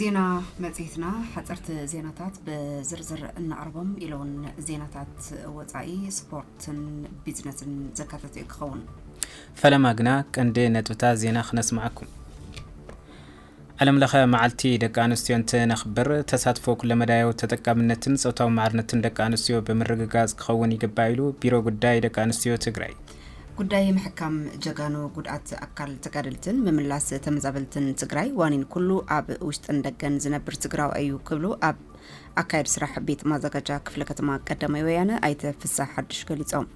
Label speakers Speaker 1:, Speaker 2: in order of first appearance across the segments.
Speaker 1: ዜና መጽሔትና ሓጸርቲ ዜናታት ብዝርዝር እናቕርቦም ኢለውን ዜናታት ወፃኢ ስፖርትን ቢዝነስን ዘካተተ እዩ ክኸውን ፈለማ
Speaker 2: ግና ቀንዲ ነጥብታት ዜና ክነስማዓኩም ዓለም ለኸ መዓልቲ ደቂ ኣንስትዮ እንትነኽብር ተሳትፎ ኩለመዳያዊ ተጠቃምነትን ፆታዊ ማዕርነትን ደቂ ኣንስትዮ ብምርግጋፅ ክኸውን ይግባእ ኢሉ ቢሮ ጉዳይ ደቂ ኣንስትዮ ትግራይ። ጉዳይ
Speaker 1: ምሕካም ጀጋኑ ጉድኣት ኣካል ተጋደልትን ምምላስ ተመዛበልትን ትግራይ ዋኒን ኩሉ ኣብ ውሽጥን ደገን ዝነብር ትግራዋይ እዩ ክብሉ ኣብ ኣካየድ ስራሕ ቤት ማዘጋጃ ክፍለ ከተማ ቀዳማይ ወያነ ኣይተ ፍሳሕ ሓዱሽ ገሊፆም።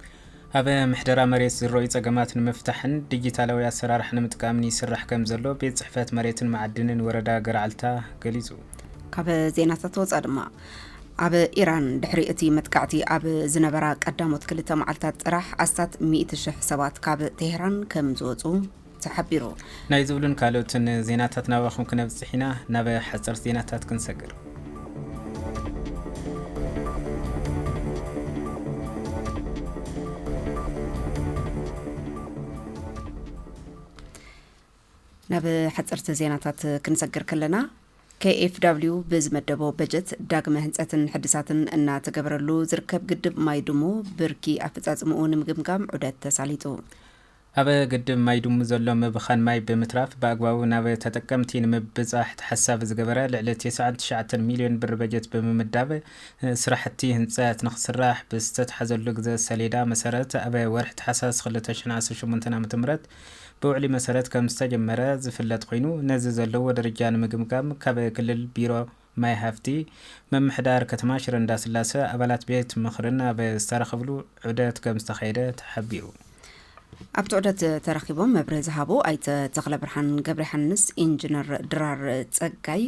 Speaker 1: ኣብ
Speaker 2: ምሕደራ መሬት ዝረዩ ጸገማት ንምፍታሕን ዲጂታላዊ ኣሰራርሓ ንምጥቃምን ይስራሕ ከም ዘሎ ቤት ጽሕፈት መሬትን መዓድንን ወረዳ ገረዓልታ ገሊጹ። ካብ
Speaker 1: ዜናታት ወፃ ድማ ኣብ ኢራን ድሕሪ እቲ መጥቃዕቲ ኣብ ዝነበራ ቀዳሞት ክልተ መዓልታት ጥራሕ ኣስታት ሚእቲ ሽሕ ሰባት ካብ ቴህራን ከም ዝወጹ ተሓቢሩ። ናይ ዝብሉን
Speaker 2: ካልኦትን ዜናታት ናባኹም ክነብጽሕ ኢና። ናብ ሓጸርቲ ዜናታት ክንሰግር።
Speaker 1: ናብ ሓጸርቲ ዜናታት ክንሰግር ከለና KFW ብዝመደቦ በጀት ዳግመ ህንፀትን ሕድሳትን እናተገበረሉ ዝርከብ ግድብ ማይ ድሙ ብርኪ ኣፈፃፅምኡ ንምግምጋም ዑደት ተሳሊጡ። ኣብ
Speaker 2: ግድብ ማይ ድሙ ዘሎ ምብኻን ማይ ብምትራፍ ብኣግባቡ ናብ ተጠቀምቲ ንምብፃሕ ተሓሳቢ ዝገበረ ልዕሊ ቴስዓን ትሽዓተን ሚሊዮን ብር በጀት ብምምዳብ ስራሕቲ ህንፀት ንክስራሕ ብዝተትሓዘሉ ግዘ ሰሌዳ መሰረት ኣብ ወርሒ ታሕሳስ ክልተ ሽሕን ዓሰርተ ሸሞንተን ዓመተ ምህረት ብውዕሊ መሰረት ከምዝተጀመረ ዝፍለጥ ኮይኑ ነዚ ዘለዎ ደረጃ ንምግምጋም ካብ ክልል ቢሮ ማይ ሃፍቲ፣ ምምሕዳር ከተማ ሽረ እንዳስላሰ፣ ኣባላት ቤት ምኽርን ኣብ ዝተረኸብሉ ዑደት ከምዝተኻየደ ተሓቢሩ። ኣብቲ
Speaker 1: ዑደት ተረኺቦም መብርሂ ዝሃቡ ኣይተ ተኽለብርሃን ገብረዮሓንስ፣ ኢንጅነር ድራር ፀጋይ፣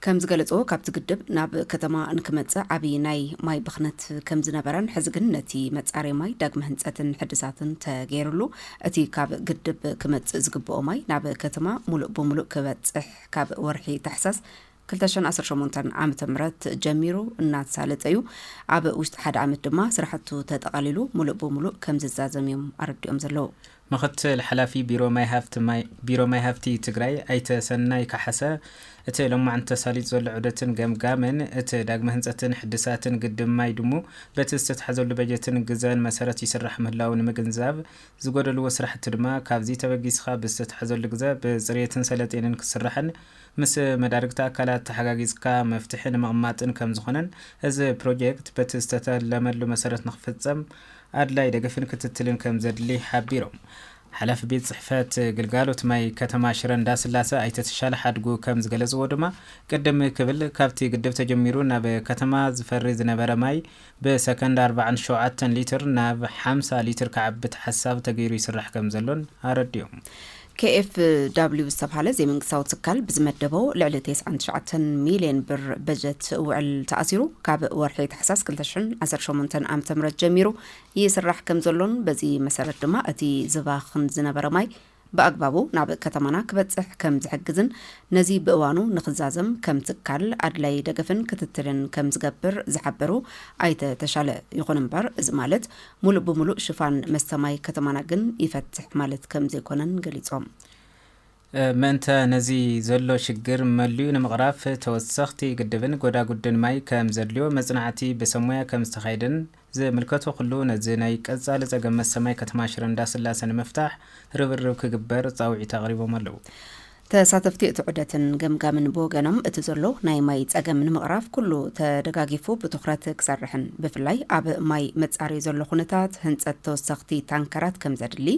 Speaker 1: ከም ዝገለጾ ካብቲ ግድብ ናብ ከተማ እንክመጽእ ዓብዪ ናይ ማይ ብኽነት ከም ዝነበረን ሕዚ ግን ነቲ መጻረዪ ማይ ዳግመ ህንጸትን ሕድሳትን ተገይርሉ እቲ ካብ ግድብ ክመጽእ ዝግብኦ ማይ ናብ ከተማ ሙሉእ ብሙሉእ ክበጽሕ ካብ ወርሒ ታሕሳስ ክልተ ሽሕን ዓሰርተ ሸሞንተን ዓመተ ምህረት ጀሚሩ እናተሳለጠ እዩ። ኣብ ውሽጢ ሓደ ዓመት ድማ ስራሕቱ ተጠቓሊሉ ሙሉእ ብሙሉእ ከም ዝዛዘም እዮም ኣረዲኦም ዘለዉ። ምክትል ሓላፊ
Speaker 2: ቢሮ ማይ ሃፍቲ ማይ ቢሮ ማይ ሃፍቲ ትግራይ ኣይተ ሰናይ ካሓሰ እቲ ሎማዕንቲ ተሳሊጡ ዘሎ ዑደትን ገምጋምን እቲ ዳግመ ህንፀትን ሕድሳትን ግድብ ማይ ድሙ በቲ ዝተትሓዘሉ በጀትን ግዘን መሰረት ይስራሕ ምህላዉ ንምግንዛብ ዝጎደልዎ ስራሕቲ ድማ ካብዚ ተበጊስኻ ብዝተትሓዘሉ ግዘ ብፅርየትን ሰለጤንን ክስራሕን ምስ መዳርግቲ ኣካላት ተሓጋጊዝካ መፍትሒ ንምቕማጥን ከምዝኾነን እዚ ፕሮጀክት በቲ ዝተተለመሉ መሰረት ንክፍፀም ኣድላዪ ደገፍን ክትትልን ከምዘድሊ ሓቢሮም። ሓላፊ ቤት ፅሕፈት ግልጋሎት ማይ ከተማ ሽረ እንዳስላሰ ኣይተ ተሻለ ሓድጉ ከምዝገለፅዎ ድማ ቅድም ክብል ካብቲ ግድብ ተጀሚሩ ናብ ከተማ ዝፈሪ ዝነበረ ማይ ብሰከንድ ኣርባዓን ሸውዓተን ሊትር ናብ ሓምሳ ሊትር ክዓቢ ተሓሳቢ ተገይሩ ይስራሕ ከምዘሎን ኣረዲኦም። KfW
Speaker 1: ዝተብሃለ ዘይመንግስታዊ ትካል ብዝመደቦ ልዕሊ ቴስዓን ትሽዓተን ሚልየን ብር በጀት ውዕል ተኣሲሩ ካብ ወርሒ ታሕሳስ ክልተ ሽሕን ዓሰርተ ሸሞንተን ዓመተ ምህረት ጀሚሩ ይስራሕ ከምዘሎን በዚ መሰረት ድማ እቲ ዝባኽን ዝነበረ ማይ ብኣግባቡ ናብ ከተማና ክበፅሕ ከምዝሕግዝን ነዚ ብእዋኑ ንክዛዘም ከም ትካል ኣድላይ ደገፍን ክትትልን ከምዝገብር ዝሓበሩ ኣይተ ተሻለ ይኹን እምበር እዚ ማለት ሙሉእ ብሙሉእ ሽፋን መስተ ማይ ከተማና ግን ይፈትሕ ማለት ከምዘይኮነን ገሊፆም።
Speaker 2: ምእንተ ነዚ ዘሎ ሽግር መሊኡ ንምቕራፍ ተወሰኽቲ ግድብን ጎዳጉድን ማይ ከምዘድልዮ መፅናዕቲ ብሰብ ሞያ ከምዝተኻየደን ዝምልከቶ ኩሉ ነዚ ናይ ቀፃሊ ፀገም መስተ ማይ ከተማ ሽረ እንዳስላሰ ንምፍታሕ ርብርብ ክግበር ፃውዒት ኣቕሪቦም ኣለው። ተሳተፍቲ
Speaker 1: እቲ ዑደትን ገምጋምን ብወገኖም እቲ ዘሎ ናይ ማይ ፀገም ንምቕራፍ ኩሉ ተደጋጊፉ ብትኹረት ክሰርሕን ብፍላይ ኣብ ማይ መፃረዩ ዘሎ ኩነታት ህንፀት ተወሰኽቲ ታንከራት ከምዘድሊ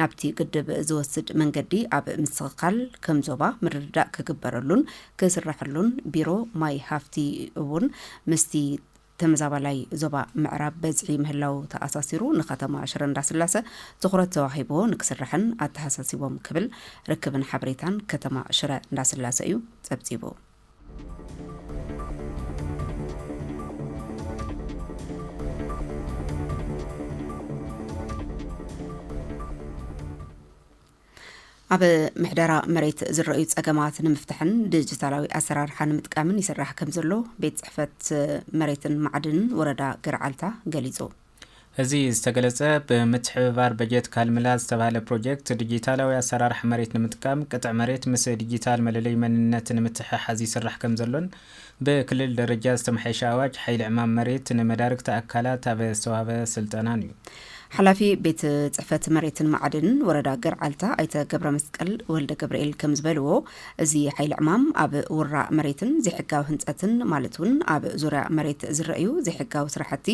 Speaker 1: ናብቲ ግድብ ዝወስድ መንገዲ ኣብ ምስኽካል ከም ዞባ ምርድዳእ ክግበረሉን ክስረሐሉን ቢሮ ማይ ሃፍቲ እውን ምስቲ ተመዛባላይ ዞባ ምዕራብ በዝሒ ምህላዉ ተኣሳሲሩ ንከተማ ሽረ እንዳስላሰ ትኹረት ተዋሂብዎ ንክስራሕን ኣተሃሳሲቦም ክብል ርክብን ሓበሬታን ከተማ ሽረ እንዳስላሰ እዩ ፀብፂቡ። ኣብ ምሕደራ መሬት ዝረኣዩ ጸገማት ንምፍታሕን ዲጂታላዊ ኣሰራርሓ ንምጥቃምን ይስራሕ ከም ዘሎ ቤት ጽሕፈት መሬትን ማዕድንን ወረዳ ገርዓልታ ገሊጹ። እዚ
Speaker 2: ዝተገለጸ ብምትሕብባር በጀት ካልምላ ዝተባህለ ፕሮጀክት ዲጂታላዊ ኣሰራርሓ መሬት ንምጥቃም ቅጥዕ መሬት ምስ ዲጂታል መለለዩ መንነት ንምትሕሓዝ ይስራሕ ከም ዘሎን ብክልል ደረጃ ዝተመሓየሸ ኣዋጅ ሓይሊ ዕማም መሬት ንመዳርግቲ ኣካላት ኣብ ዝተዋህበ ስልጠናን እዩ። ሓላፊ ቤት
Speaker 1: ፅሕፈት መሬትን ማዕድንን ወረዳ ገርዓልታ ኣይተ ገብረመስቀል ወልደገብርኤል ከምዝበልዎ፣ እዚ ሓይሊ ዕማም ኣብ ውራእ መሬትን ዘይሕጋዊ ህንፀትን ማለት እውን ኣብ ዙርያ መሬት ዝረኣዩ ዘይሕጋዊ ስራሕቲ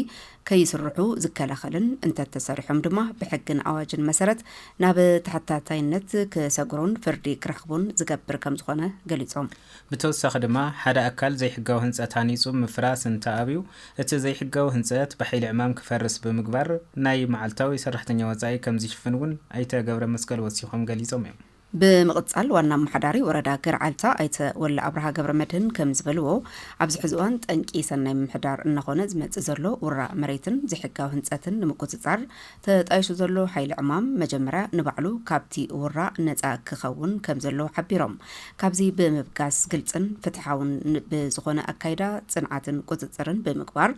Speaker 1: ከይስርሑ ዝከላኸልን እንተተሰሪሖም ድማ ብሕግን ኣዋጅን መሰረት ናብ ተሓታታይነት ክሰግሩን ፍርዲ ክረኽቡን ዝገብር ከምዝኾነ ገሊፆም። ብተወሳኺ ድማ
Speaker 2: ሓደ ኣካል ዘይሕጋዊ ህንፀት ሃኒፁ ምፍራስ እንተኣብዩ እቲ ዘይሕጋዊ ህንፀት ብሓይሊ ዕማም ክፈርስ ብምግባር ናይ መዓልታዊ ሰራሕተኛ ወፃኢ ከምዝሽፍን እውን ኣይተ ገብረመስቀል ወሲኾም ገሊፆም እዮም። ብምቕፃል ዋና
Speaker 1: ኣመሓዳሪ ወረዳ ገርዓልታ ኣይተ ወለ ኣብርሃ ገብረመድህን ከምዝበልዎ፣ ኣብዚ ሕዚ እዋን ጠንቂ ሰናይ ምምሕዳር እናኾነ ዝመፅእ ዘሎ ውራ መሬትን ዘይሕጋዊ ህንፀትን ንምቁፅፃር ተጣይሹ ዘሎ ሓይሊ ዕማም መጀመርያ ንባዕሉ ካብቲ ውራእ ነፃ ክኸውን ከምዘለዎ ሓቢሮም። ካብዚ ብምብጋስ ግልፅን ፍትሓውን ብዝኾነ ኣካይዳ ፅንዓትን ቁፅፅርን ብምግባር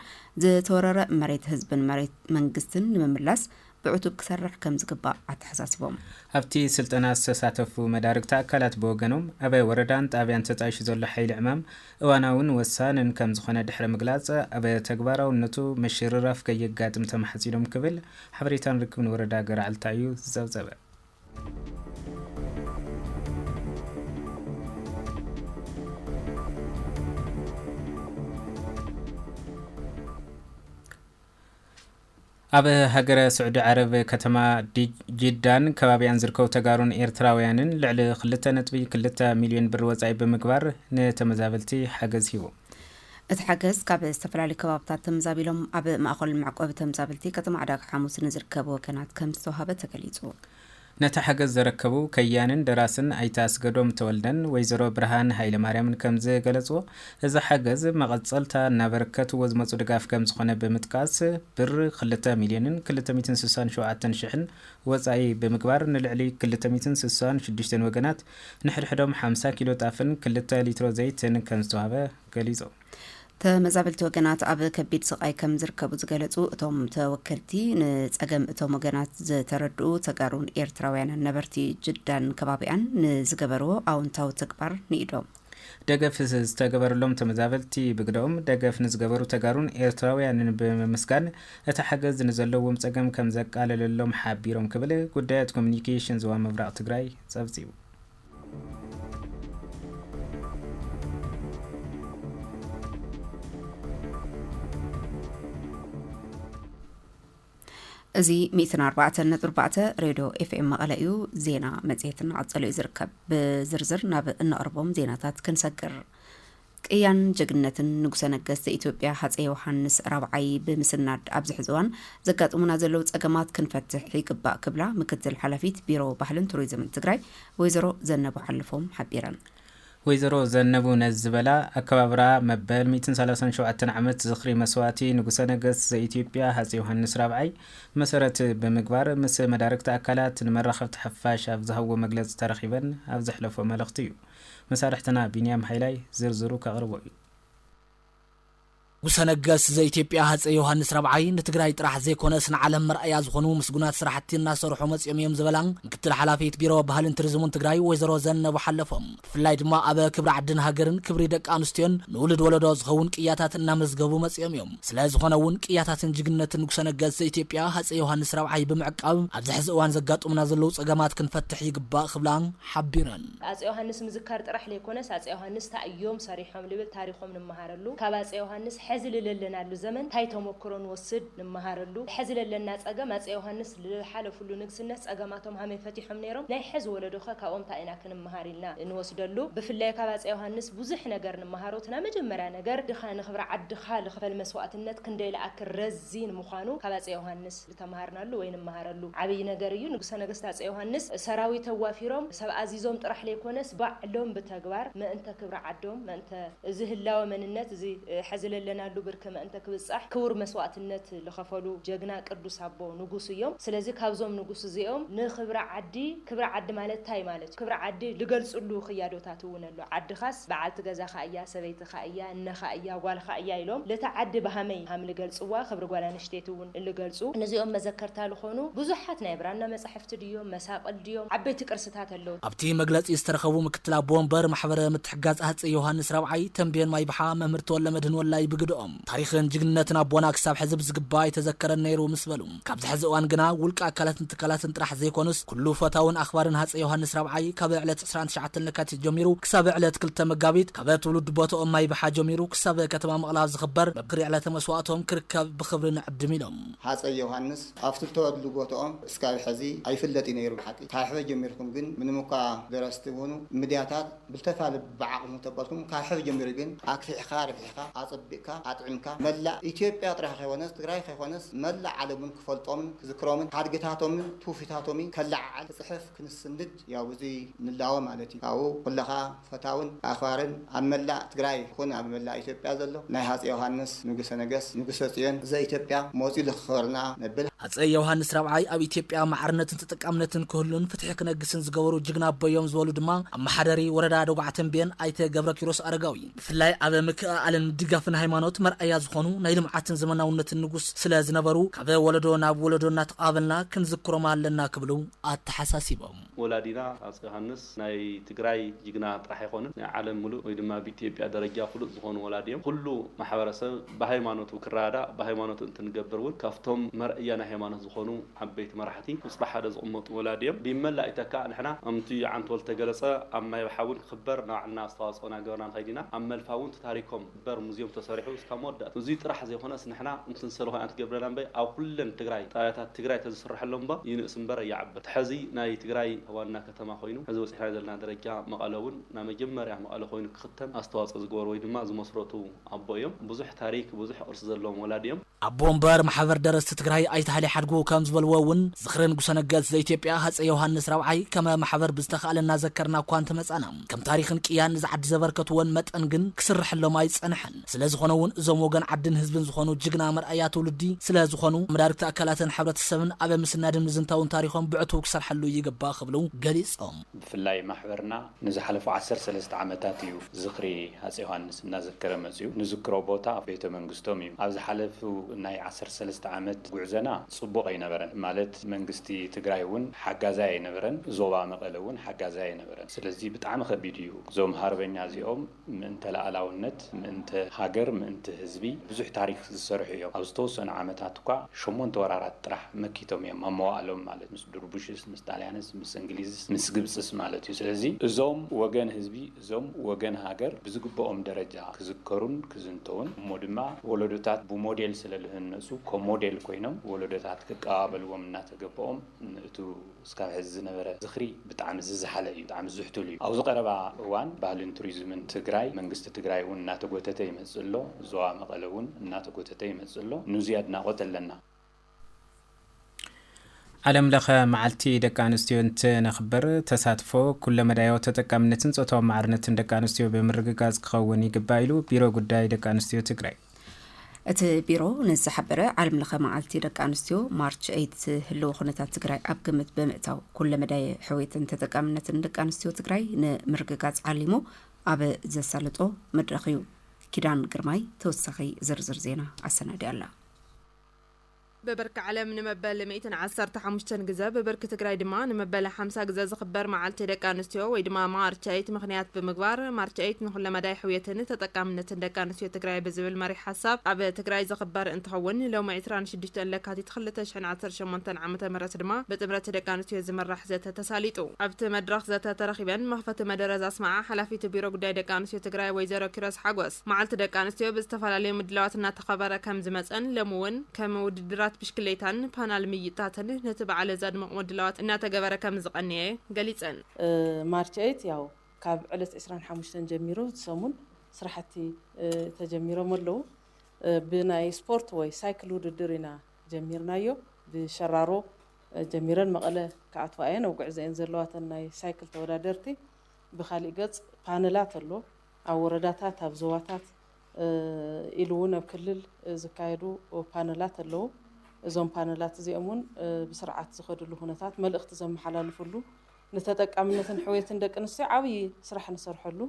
Speaker 1: ዝተወረረ መሬት ህዝብን መሬት መንግስትን ንምምላስ ብዕቱብ ክሰርሕ ከምዝግባእ ኣተሓሳሲቦም። ኣብቲ ስልጠና
Speaker 2: ዝተሳተፉ መዳርግቲ ኣካላት ብወገኖም፣ ኣባይ ወረዳን ጣብያን ተጣይሹ ዘሎ ሓይሊ ዕማም እዋናውን ወሳንን ከምዝኾነ ድሕሪ ምግላፅ፣ ኣብ ተግባራውነቱ ምሽርራፍ ከየጋጥም ተማሕፂኖም ክብል ሓበሬታን ርክብን ወረዳ ገረዓልታ እዩ ዝፀብፀበ። ኣብ ሃገረ ስዑዲ ዓረብ ከተማ ጂዳን ከባቢኣን ዝርከቡ ተጋሩን ኤርትራውያንን ልዕሊ ክልተ ነጥቢ ክልተ ሚልዮን ብር ወፃኢ ብምግባር ንተመዛበልቲ ሓገዝ ሂቡ። እቲ ሓገዝ
Speaker 1: ካብ ዝተፈላለዩ ከባብታት ተመዛቢሎም ኣብ ማእኸል መዕቆቢ ተምዛበልቲ ከተማ ዕዳጋ ሓሙስ ንዝርከቡ ወገናት ከምዝተውሃበ ተገሊፁ። ነቲ
Speaker 2: ሓገዝ ዘረከቡ ከያኒን ደራስን ኣይተ ኣስገዶም ተወልደን ወይዘሮ ብርሃን ሃይለማርያምን ከምዝገለፅዎ፣ እዚ ሓገዝ መቐፀልታ እናበርከትዎ ዝመፁ ድጋፍ ከምዝኾነ ብምጥቃስ፣ ብር ክልተ ሚልዮንን ክልተ ሚእትን ስሳን ሸውዓተን ሽሕን ወፃኢ ብምግባር ንልዕሊ ክልተ ሚእትን ስሳን ሽዱሽተን ወገናት ንሕድሕዶም ሓምሳ ኪሎ ጣፍን ክልተ ሊትሮ ዘይትን ከምዝተውሃበ ገሊፁ። ተመዛበልቲ
Speaker 1: ወገናት ኣብ ከቢድ ስቓይ ከም ዝርከቡ ዝገለጹ እቶም ተወከልቲ ንጸገም እቶም ወገናት ዝተረድኡ ተጋሩን ኤርትራውያንን ነበርቲ ጅዳን ከባቢኣን ንዝገበርዎ ኣውንታዊ ተግባር ንኢዶም ደገፍ
Speaker 2: ዝተገበረሎም ተመዛበልቲ ብግደኦም ደገፍ ንዝገበሩ ተጋሩን ኤርትራውያንን ብምምስጋን እቲ ሓገዝ ንዘለዎም ጸገም ከም ዘቃለለሎም ሓቢሮም ክብል ጉዳያት ኮሚኒኬሽን ዞባ ምብራቕ ትግራይ ጸብጺቡ።
Speaker 1: እዚ ሚእትን ኣርባዕተን ነጥቢ ኣርባዕተ ሬድዮ ኤፍኤም መቐለ እዩ ዜና መፅሄትና ቀፀሉ እዩ ዝርከብ ብዝርዝር ናብ እነቕርቦም ዜናታት ክንሰግር ቅያን ጀግንነትን ንጉሰ ነገስት ዘኢትዮጵያ ሃፀይ ዮውሃንስ ራብዓይ ብምስናድ ኣብዚ ሕዚ እዋን ዘጋጥሙና ዘለው ፀገማት ክንፈትሕ ይግባእ ክብላ ምክትል ሓላፊት ቢሮ ባህልን ቱሪዝምን ትግራይ ወይዘሮ ዘነቡ ሓልፎም ሓቢረን። ወይዘሮ
Speaker 2: ዘነቡ ነዚ ዝበላ ኣከባብራ መበል ሚእትን ሰላሳን ሸውዓተን ዓመት ዝኽሪ መስዋእቲ ንጉሰ ነገስት ዘኢትዮጵያ ሃፀይ ዮውሃንስ ራብዓይ መሰረት ብምግባር ምስ መዳርግቲ ኣካላት ንመራኸብቲ ሓፋሽ ኣብ ዝሃብዎ መግለፂ ተረኺበን ኣብ ዘሕለፍኦ መልእኽቲ እዩ። መሳርሕትና ቢንያም ሃይላይ ዝርዝሩ ከቕርቦ እዩ። ንጉሰ
Speaker 3: ነገስ ዘኢትዮጵያ ሃፀይ ዮሃንስ ራብዓይ ንትግራይ ጥራሕ ዘይኮነስ ንዓለም መርኣያ ዝኾኑ ምስጉናት ስራሕቲ እናሰርሑ መፂኦም እዮም ዝበላ ምክትል ሓላፊት ቢሮ ባህልን ቱሪዝሙን ትግራይ ወይዘሮ ዘነቡ ሓለፎም ብፍላይ ድማ ኣበ ክብሪ ዓድን ሃገርን ክብሪ ደቂ ኣንስትዮን ንውሉድ ወለዶ ዝኸውን ቅያታት እናመዝገቡ መፂኦም እዮም። ስለዝኾነ እውን ቅያታትን ጅግንነትን ንጉሰ ነገስ ዘኢትዮጵያ ሃፀይ ዮሃንስ ራብዓይ ብምዕቃብ ኣብዚ ሕዚ እዋን ዘጋጥሙና ዘለዉ ፀገማት ክንፈትሕ ይግባእ ክብላ ሓቢረን። ኣፄ ዮሃንስ
Speaker 4: ምዝካር ጥራሕ ለይኮነስ ኣፄ ዮሃንስ ታይ እዮም ሰሪሖም ልብል ታሪኾም ንመሃረሉ ካብ ኣፄ ዮሃንስ ሐዚ ልለለናሉ ዘመን ታይ ተሞክሮ ንወስድ ንመሃረሉ ሐዚ ለለና ፀገም ኣፄ ዮሃንስ ልልሓለፍሉ ንግስነት ፀገማቶም ሀመይ ፈቲሖም ነይሮም ናይ ሐዚ ወለዶኸ ካብኦም ታይ ኢና ክንመሃር ኢልና ንወስደሉ ብፍላይ ካብ ኣፄ ዮሃንስ ቡዙሕ ነገር ንመሃሮ እቲ ናይ መጀመርያ ነገር ድኻ ንክብሪ ዓድኻ ልኽፈል መስዋእትነት ክንደይ ልኣክል ረዚን ምዃኑ ካብ ኣፄ ዮሃንስ ዝተመሃርናሉ ወይ ንመሃረሉ ዓብይ ነገር እዩ። ንጉሰ ነገስት ኣፄ ዮሃንስ ሰራዊት ኣዋፊሮም ሰብ ኣዚዞም ጥራሕ ለይኮነስ ባዕሎም ብተግባር መእንተ ክብሪ ዓዶም መእንተ እዚ ህላወ መንነት እዚ ሐዚ ለለናሉ ብርኪ መእንተ ክብፃሕ ክቡር መስዋእትነት ልኸፈሉ ጀግና ቅዱስ ኣቦ ንጉስ እዮም። ስለዚ ካብዞም ንጉስ እዚኦም ንክብሪ ዓዲ ክብሪ ዓዲ ማለት ታይ ማለት እዩ ክብሪ ዓዲ ልገልፅሉ ኽያዶታት እውን ኣሎ። ዓድኻስ በዓልቲ ገዛኻ እያ ሰበይትኻ፣ ኣደኻ እያ፣ እነኻ እያ፣ ጓልኻ እያ ኢሎም ልታ ዓዲ ብሃመይ ሃም ልገልጽዋ ክብሪ ጓል ኣንሽተይቲ እውን ልገልጹ ንዚኦም መዘከርታ ልኾኑ ብዙሓት ናይ ብራና መጻሕፍቲ ድዮም፣ መሳቕል ድዮም፣ ዓበይቲ ቅርስታት ኣለዉ። ኣብቲ መግለጺ ዝተረኸቡ
Speaker 3: ምክትል ኣቦ ወንበር ማሕበረ ምትሕግጋዝ ሃጸይ ዮውሃንስ ራብዓይ ተምቤን ማይብሓ መምህር ተወልደመድህን ወላይ ብግደኦም፣ ታሪኽን ጅግንነትን ኣቦና ክሳብ ሕዚ ብዝግባእ ኣይተዘከረን ነይሩ ምስ በሉ፣ ካብዚ ሐዚ እዋን ግና ውልቀ ኣካላትን ትካላትን ጥራሕ ዘይኮኑስ ኩሉ ፈታውን ኣኽባርን ሃፀይ ዮሃንስ ራብዓይ ካብ ዕለት ዕስራን ትሽዓተን ለካቲት ጀሚሩ ክሳብ ዕለት ክልተ መጋቢት ካብ ትውልዲ ቦትኦም ማይብሓ ጀሚሩ ክሳብ ከተማ መቐለ ኣብ ዝኽበር መብክሪ ዕለተ መስዋእቶም ክርከብ ብኽብሪ ንዕድም ኢሎም። ሃፀይ ዮሃንስ
Speaker 5: ኣብቲ ዝተወልድሉ ቦትኦም እስካብ ሐዚ ኣይፍለጥ እዩ ነይሩ ብሓቂ ካብ ሕበ ጀሚርኩም ግን ምንም እኳ ደረስቲ ኹኑ ምድያታት፣ ብልተታ ልብ ብዓቕሙ ተበልኩም ካብ ሕዚ ጀሚሩ ግን ኣግፊሕኻ ኣርቢሕኻ ኣጸቢቕካ ኣጥዒምካ መላእ ኢትዮጵያ ጥራይ ከይኮነስ ትግራይ ከይኮነስ መላእ ዓለምውን ክፈልጦምን ክዝክሮምን ሓድግታቶምን ትውፊታቶሚ ከለዓዕል ክጽሕፍ ክንስንድ ያው ብዙይ ንላወ ማለት እዩ ካብኡ ኩለኻ ፈታውን ኣኽባርን ኣብ መላእ ትግራይ ይኹን ኣብ መላእ ኢትዮጵያ ዘሎ ናይ ሃጼ ዮሃንስ ንጉሰ ነገስት ንጉሰ ጽዮን ዘኢትዮጵያ ሞጺኡ ዘኽኸበርና ነብል። ሃጸይ ዮውሃንስ ራብዓይ
Speaker 3: ኣብ ኢትዮጵያ ማዕርነትን ተጠቃምነትን ክህሉን ፍትሒ ክነግስን ዝገበሩ ጅግና ኣቦ እዮም ዝበሉ ድማ ኣመሓዳሪ ወረዳ ደጉዓ ተምቤን ኣይተ ገብረኪሮስ ኣረጋዊ ብፍላይ ኣብ ምክእኣልን ድጋፍን ሃይማኖት መርኣያ ዝኾኑ ናይ ልምዓትን ዘመናውነትን ንጉስ ስለ ዝነበሩ ካብ ወለዶ ናብ ወለዶ እናተቐባበልና ክንዝክሮም ኣለና ክብሉ ኣተሓሳሲቦም። ወላዲና ሃጸይ
Speaker 6: ዮሃንስ ናይ ትግራይ ጅግና ጥራሕ ኣይኮኑን ናይ ዓለም ምሉእ ወይ ድማ ብኢትዮጵያ ደረጃ ፍሉጥ ዝኾኑ ወላዲ እዮም። ኹሉ ማሕበረሰብ ብሃይማኖቱ ክረዳዳእ ብሃይማኖቱ እንትንገብር እውን ካብቶም መርኣያ ናይ ሃይማኖት ዝኾኑ ዓበይቲ መራሕቲ ቁፅሪ ሓደ ዝቕመጡ ወላዲ እዮም። ብመላእ ይተካእ ንሕና ከምቲ ዓንተወልድ ዝተገለፀ ኣብ ማይ ኣብሓ እውን ክኽበር ናባዕልና ኣስተዋፅኦ ናገበርና ንኸይድ ኢና። ኣብ መልፋ እውን እቲ ታሪኮም ዝኽበር ሙዝየም ተሰሪሑ እስካብ መወዳእታ እዙይ ጥራሕ ዘይኾነስ ንሕና እንትንሰለ ኮይና እንትገብረና እምበይ ኣብ ኹለን ትግራይ ጣብያታት ትግራይ ተዝስረሐሎም እባ ይንእስ እምበር ኣይዓብን እቲ ሐዚ ናይ ትግራይ ዋና ከተማ ኮይኑ ሕዚ በጺሕናዮ ዘለና ደረጃ መቐለ እውን ናይ መጀመርያ መቐለ ኮይኑ ክኽተም ኣስተዋጽኦ ዝገበሩ ወይ ድማ ዝመስረቱ ኣቦ እዮም። ብዙሕ ታሪክ ብዙሕ ቅርሲ ዘለዎም ወላዲ እዮም። ኣቦ ወንበር ማሕበር
Speaker 3: ደረስቲ ትግራይ ኣይተ ሃይሌ ሓድጉ ከም ዝበልዎ እውን ዝኽሪ ንጉሰ ነገስት ዘኢትዮጵያ ሃጸይ ዮውሃንስ ራብዓይ ከመ ማሕበር ብዝተኻእለ እናዘከርና እኳ እንተመጻእና ከም ታሪኽን ቅያን ንዛ ዓዲ ዘበርከትዎን መጠን ግን ክስረሐሎም ኣይጸንሐን። ስለዝኾነ እውን እዞም ወገን ዓድን ህዝብን ዝኾኑ ጅግና መርኣያ ትውልዲ ስለዝኾኑ መዳርግቲ ኣካላትን ሕብረተሰብን ኣብ ምስናድን ምዝንታውን ታሪኾም ብዕቱቡ ክሰርሐሉ ይግባእ ክብሉ ገሊፆም። ብፍላይ ማሕበርና
Speaker 7: ንዝሓለፉ ዓሰርተ ሰለስተ ዓመታት እዩ ዝኽሪ ሃፀይ ዮሃንስ እናዘከረ መፂኡ። ንዝክሮ ቦታ ቤተ መንግስቶም እዩ። ኣብ ዝሓለፉ ናይ ዓሰርተ ሰለስተ ዓመት ጉዕዘና ፅቡቕ ኣይነበረን። ማለት መንግስቲ ትግራይ እውን ሓጋዛይ ኣይነበረን፣ ዞባ መቐለ እውን ሓጋዛይ ኣይነበረን። ስለዚ ብጣዕሚ ከቢድ እዩ። እዞም ሃርበኛ እዚኦም ምእንተ ልኣላውነት፣ ምእንተ ሃገር፣ ምእንቲ ህዝቢ ብዙሕ ታሪኽ ዝሰርሑ እዮም። ኣብ ዝተወሰኑ ዓመታት እኳ ሸሞንተ ወራራት ጥራሕ መኪቶም እዮም፣ ኣብ መዋእሎም ማለት፣ ምስ ድርቡሽስ፣ ምስ ጣልያንስ፣ ምስ እንግሊዝስ፣ ምስ ግብጽስ ማለት እዩ። ስለዚ እዞም ወገን ህዝቢ፣ እዞም ወገን ሃገር ብዝግበኦም ደረጃ ክዝከሩን ክዝንተዉን፣ እሞ ድማ ወለዶታት ብሞዴል ስለ ልህነጹ፣ ኮሞዴል ኮይኖም ወለዶታት ክቀባበልዎም እናተገበኦም፣ ንእቱ። እስካብ ሕዚ ዝነበረ ዝኽሪ ብጣዕሚ ዝዘሓለ እዩ፣ ብጣዕሚ ዝሕቱል እዩ። ኣብዚ ቀረባ እዋን ባህልን ቱሪዝምን ትግራይ፣ መንግስቲ ትግራይ እውን እናተጎተተ ይመፅእ ኣሎ፣ ዞባ መቐለ እውን እናተጎተተ ይመፅእ ኣሎ፣ ኑዙይ ኣድናቖት ኣለና።
Speaker 2: ዓለም ለኸ መዓልቲ ደቂ ኣንስትዮ እንትነኽብር ተሳትፎ፣ ኩለ መዳያዊ ተጠቃምነትን ፆታዊ ማዕርነትን ደቂ ኣንስትዮ ብምርግጋፅ ክኸውን ይግባእ ኢሉ ቢሮ ጉዳይ ደቂ ኣንስትዮ ትግራይ። እቲ
Speaker 1: ቢሮ ንዝሓበረ ዓለም ለኸ መዓልቲ ደቂ ኣንስትዮ ማርች ኤይት ህልው ኩነታት ትግራይ ኣብ ግምት ብምእታው ኩለ መዳይ ሕውየትን ተጠቃምነትን ደቂ ኣንስትዮ ትግራይ ንምርግጋፅ ዓሊሙ ኣብ ዘሳልጦ መድረኽ እዩ። ኪዳን ግርማይ ተወሳኺ ዝርዝር ዜና ኣሰናዲያ ኣላ። ብብርኪ
Speaker 8: ዓለም ንመበል ሚእትን ዓሰርተ ሓሙሽተን ግዘ ብብርኪ ትግራይ ድማ ንመበል ሓምሳ ግዘ ዝኽበር መዓልቲ ደቂ ኣንስትዮ ወይ ድማ ማርች ኤይት ምኽንያት ብምግባር ማርች ኤይት ንኹለመዳይ ሕውየትን ተጠቃምነትን ደቂ ኣንስትዮ ትግራይ ብዝብል መሪሕ ሓሳብ ኣብ ትግራይ ዝኽበር እንትኸውን ሎሚ ዕስራን ሽዱሽተን ለካቲት ክልተ ሽሕን ዓሰርተ ሸሞንተን ዓመተ ምህረት ድማ ብጥምረት ደቂ ኣንስትዮ ዝምራሕ ዘተ ተሳሊጡ። ኣብቲ መድረኽ ዘተ ተረኺበን መኽፈቲ መደረ ዛስመዓ ሓላፊት ቢሮ ጉዳይ ደቂ ኣንስትዮ ትግራይ ወይዘሮ ኪሮስ ሓጎስ፣ መዓልቲ ደቂ ኣንስትዮ ብዝተፈላለዩ ምድላዋት እናተኸበረ ከም ዝመፀን ሎሚ እውን ከም ውድድራት ብሽክሌታን ፓናል ምይይጥታትን ነቲ በዓለ ዘድምቕ ምድላዋት እናተገበረ ከም ዝቐነየ ገሊፀን። ማርች ኤይት
Speaker 9: ያው ካብ ዕለት ዕስራን ሓሙሽተን ጀሚሩ እቲ ሰሙን ስራሕቲ ተጀሚሮም ኣለው። ብናይ ስፖርት ወይ ሳይክል ውድድር ኢና ጀሚርናዮ። ብሸራሮ ጀሚረን መቐለ ክኣትዋ እየን ኣብ ጉዕዞ እየን ዘለዋ እተን ናይ ሳይክል ተወዳደርቲ። ብኻሊእ ገፅ ፓነላት ኣሎ። ኣብ ወረዳታት፣ ኣብ ዞባታት ኢሉ እውን ኣብ ክልል ዝካየዱ ፓነላት ኣለዉ። እዞም ፓነላት እዚኦም እውን ብስርዓት ዝኸድሉ ኩነታት፣ መልእኽቲ ዘመሓላልፍሉ፣ ንተጠቃምነትን ሕውየትን ደቂ ኣንስትዮ ዓብዪ ስራሕ ንሰርሐሉ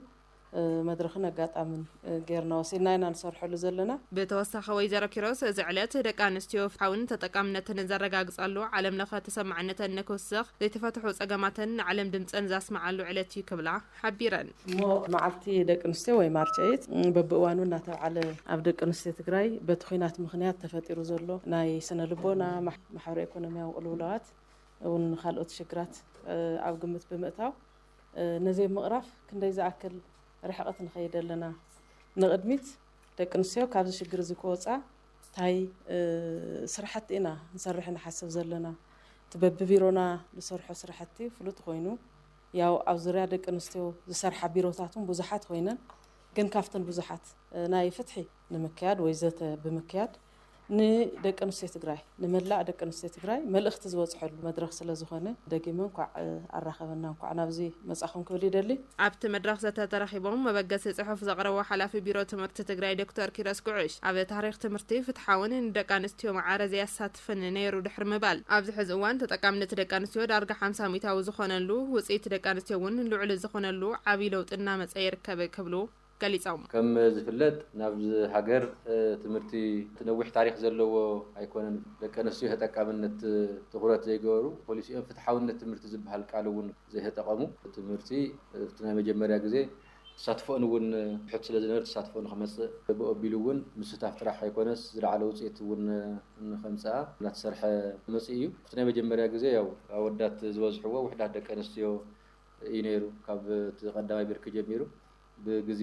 Speaker 9: መድረኽን ኣጋጣምን ገይርና ወሲድና ኢና ንሰርሐሉ ዘለና። ብተወሳኺ ወይዘሮ
Speaker 8: ኪሮስ፣ እዚ ዕለት ደቂ ኣንስትዮ ፍትሓውን ተጠቃምነትን ዘረጋግፃሉ፣ ዓለም ለኸ ተሰማዕነተን ንክውስኽ፣ ዘይተፈትሑ ፀገማተን ንዓለም ድምፀን ዘስምዓሉ ዕለት እዩ ክብላ ሓቢረን። እሞ መዓልቲ
Speaker 9: ደቂ ኣንስትዮ ወይ ማርች ኤይት በብእዋኑ እናተብዓለ ኣብ ደቂ ኣንስትዮ ትግራይ በቲ ኹናት ምኽንያት ተፈጢሩ ዘሎ ናይ ስነ ልቦና፣ ማሕበረ ኢኮኖሚያዊ ቅልውላዋት እውን ኻልኦት ሽግራት ኣብ ግምት ብምእታው ነዚ ኣብ ምቕራፍ ክንደይ ዝኣክል ርሕቕት ንኸይድ ኣለና? ንቕድሚት ደቂ ኣንስትዮ ካብዚ ሽግር እዚ ክወፃ ታይ ስራሕቲ ኢና ክንሰርሕ ንሓስብ ዘለና? እቲ በቢቢሮና ንሰርሖ ስራሕቲ ፍሉጥ ኾይኑ ያው ኣብ ዙርያ ደቂ ኣንስትዮ ዝሰርሓ ቢሮታት እውን ብዙሓት ኮይነን ግን ካብተን ብዙሓት ናይ ፍትሒ ንምክያድ ወይ ዘተ ብምክያድ ንደቂ ኣንስትዮ ትግራይ ንመላእ ደቂ ኣንስትዮ ትግራይ መልእኽቲ ዝበፅሐሉ መድረኽ ስለዝኾነ ደጊመ እንኳዕ ኣራኸበና እንኳዕ ናብዚ መፃኹም ክብል ይደሊ። ኣብቲ መድረኽ ዘተ
Speaker 8: ተረኺቦም መበገሲ ፅሑፍ ዘቕረቡ ሓላፊ ቢሮ ትምህርቲ ትግራይ ዶክተር ኪሮስ ጉዕሽ ኣብ ታሪኽ ትምህርቲ ፍትሓውን ንደቂ ኣንስትዮ ማዕረ ዘየሳትፍን ፍን ነይሩ ድሕሪ ምባል፣ ኣብዚ ሕዚ እዋን ተጠቃምነት ደቂ ኣንስትዮ ዳርጋ ሓምሳ ሚእታዊ ዝኾነሉ፣ ውፅኢት ደቂ ኣንስትዮ እውን ልዑል ዝኾነሉ ዓብዪ ለውጢ እናመፀ ይርከብ ክብሉ ገሊፆም። ከም ዝፍለጥ
Speaker 6: ናብዚ ሃገር ትምህርቲ እቲ ነዊሕ ታሪኽ ዘለዎ ኣይኮነን። ደቂ ኣንስትዮ ተጠቃምነት ትኹረት ዘይገበሩ ፖሊሲኦም ፍትሓውነት ትምህርቲ ዝብሃል ቃል እውን ዘይተጠቐሙ ትምህርቲ እቲ ናይ መጀመርያ ግዜ ተሳትፎኡን እውን ትሑት ስለ ዝነበረ ተሳትፎኡ ንክመፅእ ብኡ ኣቢሉ እውን ምስታፍ ጥራሕ ኣይኮነስ ዝለዓለ ውፅኢት እውን ንከምፅኣ እናተሰርሐ መፂኡ እዩ። እቲ ናይ መጀመርያ ግዘ ያው ኣወዳት ዝበዝሕዎ ውሕዳት ደቂ ኣንስትዮ እዩ ነይሩ ካብ እቲ ቀዳማይ ብርኪ ጀሚሩ ብግዜ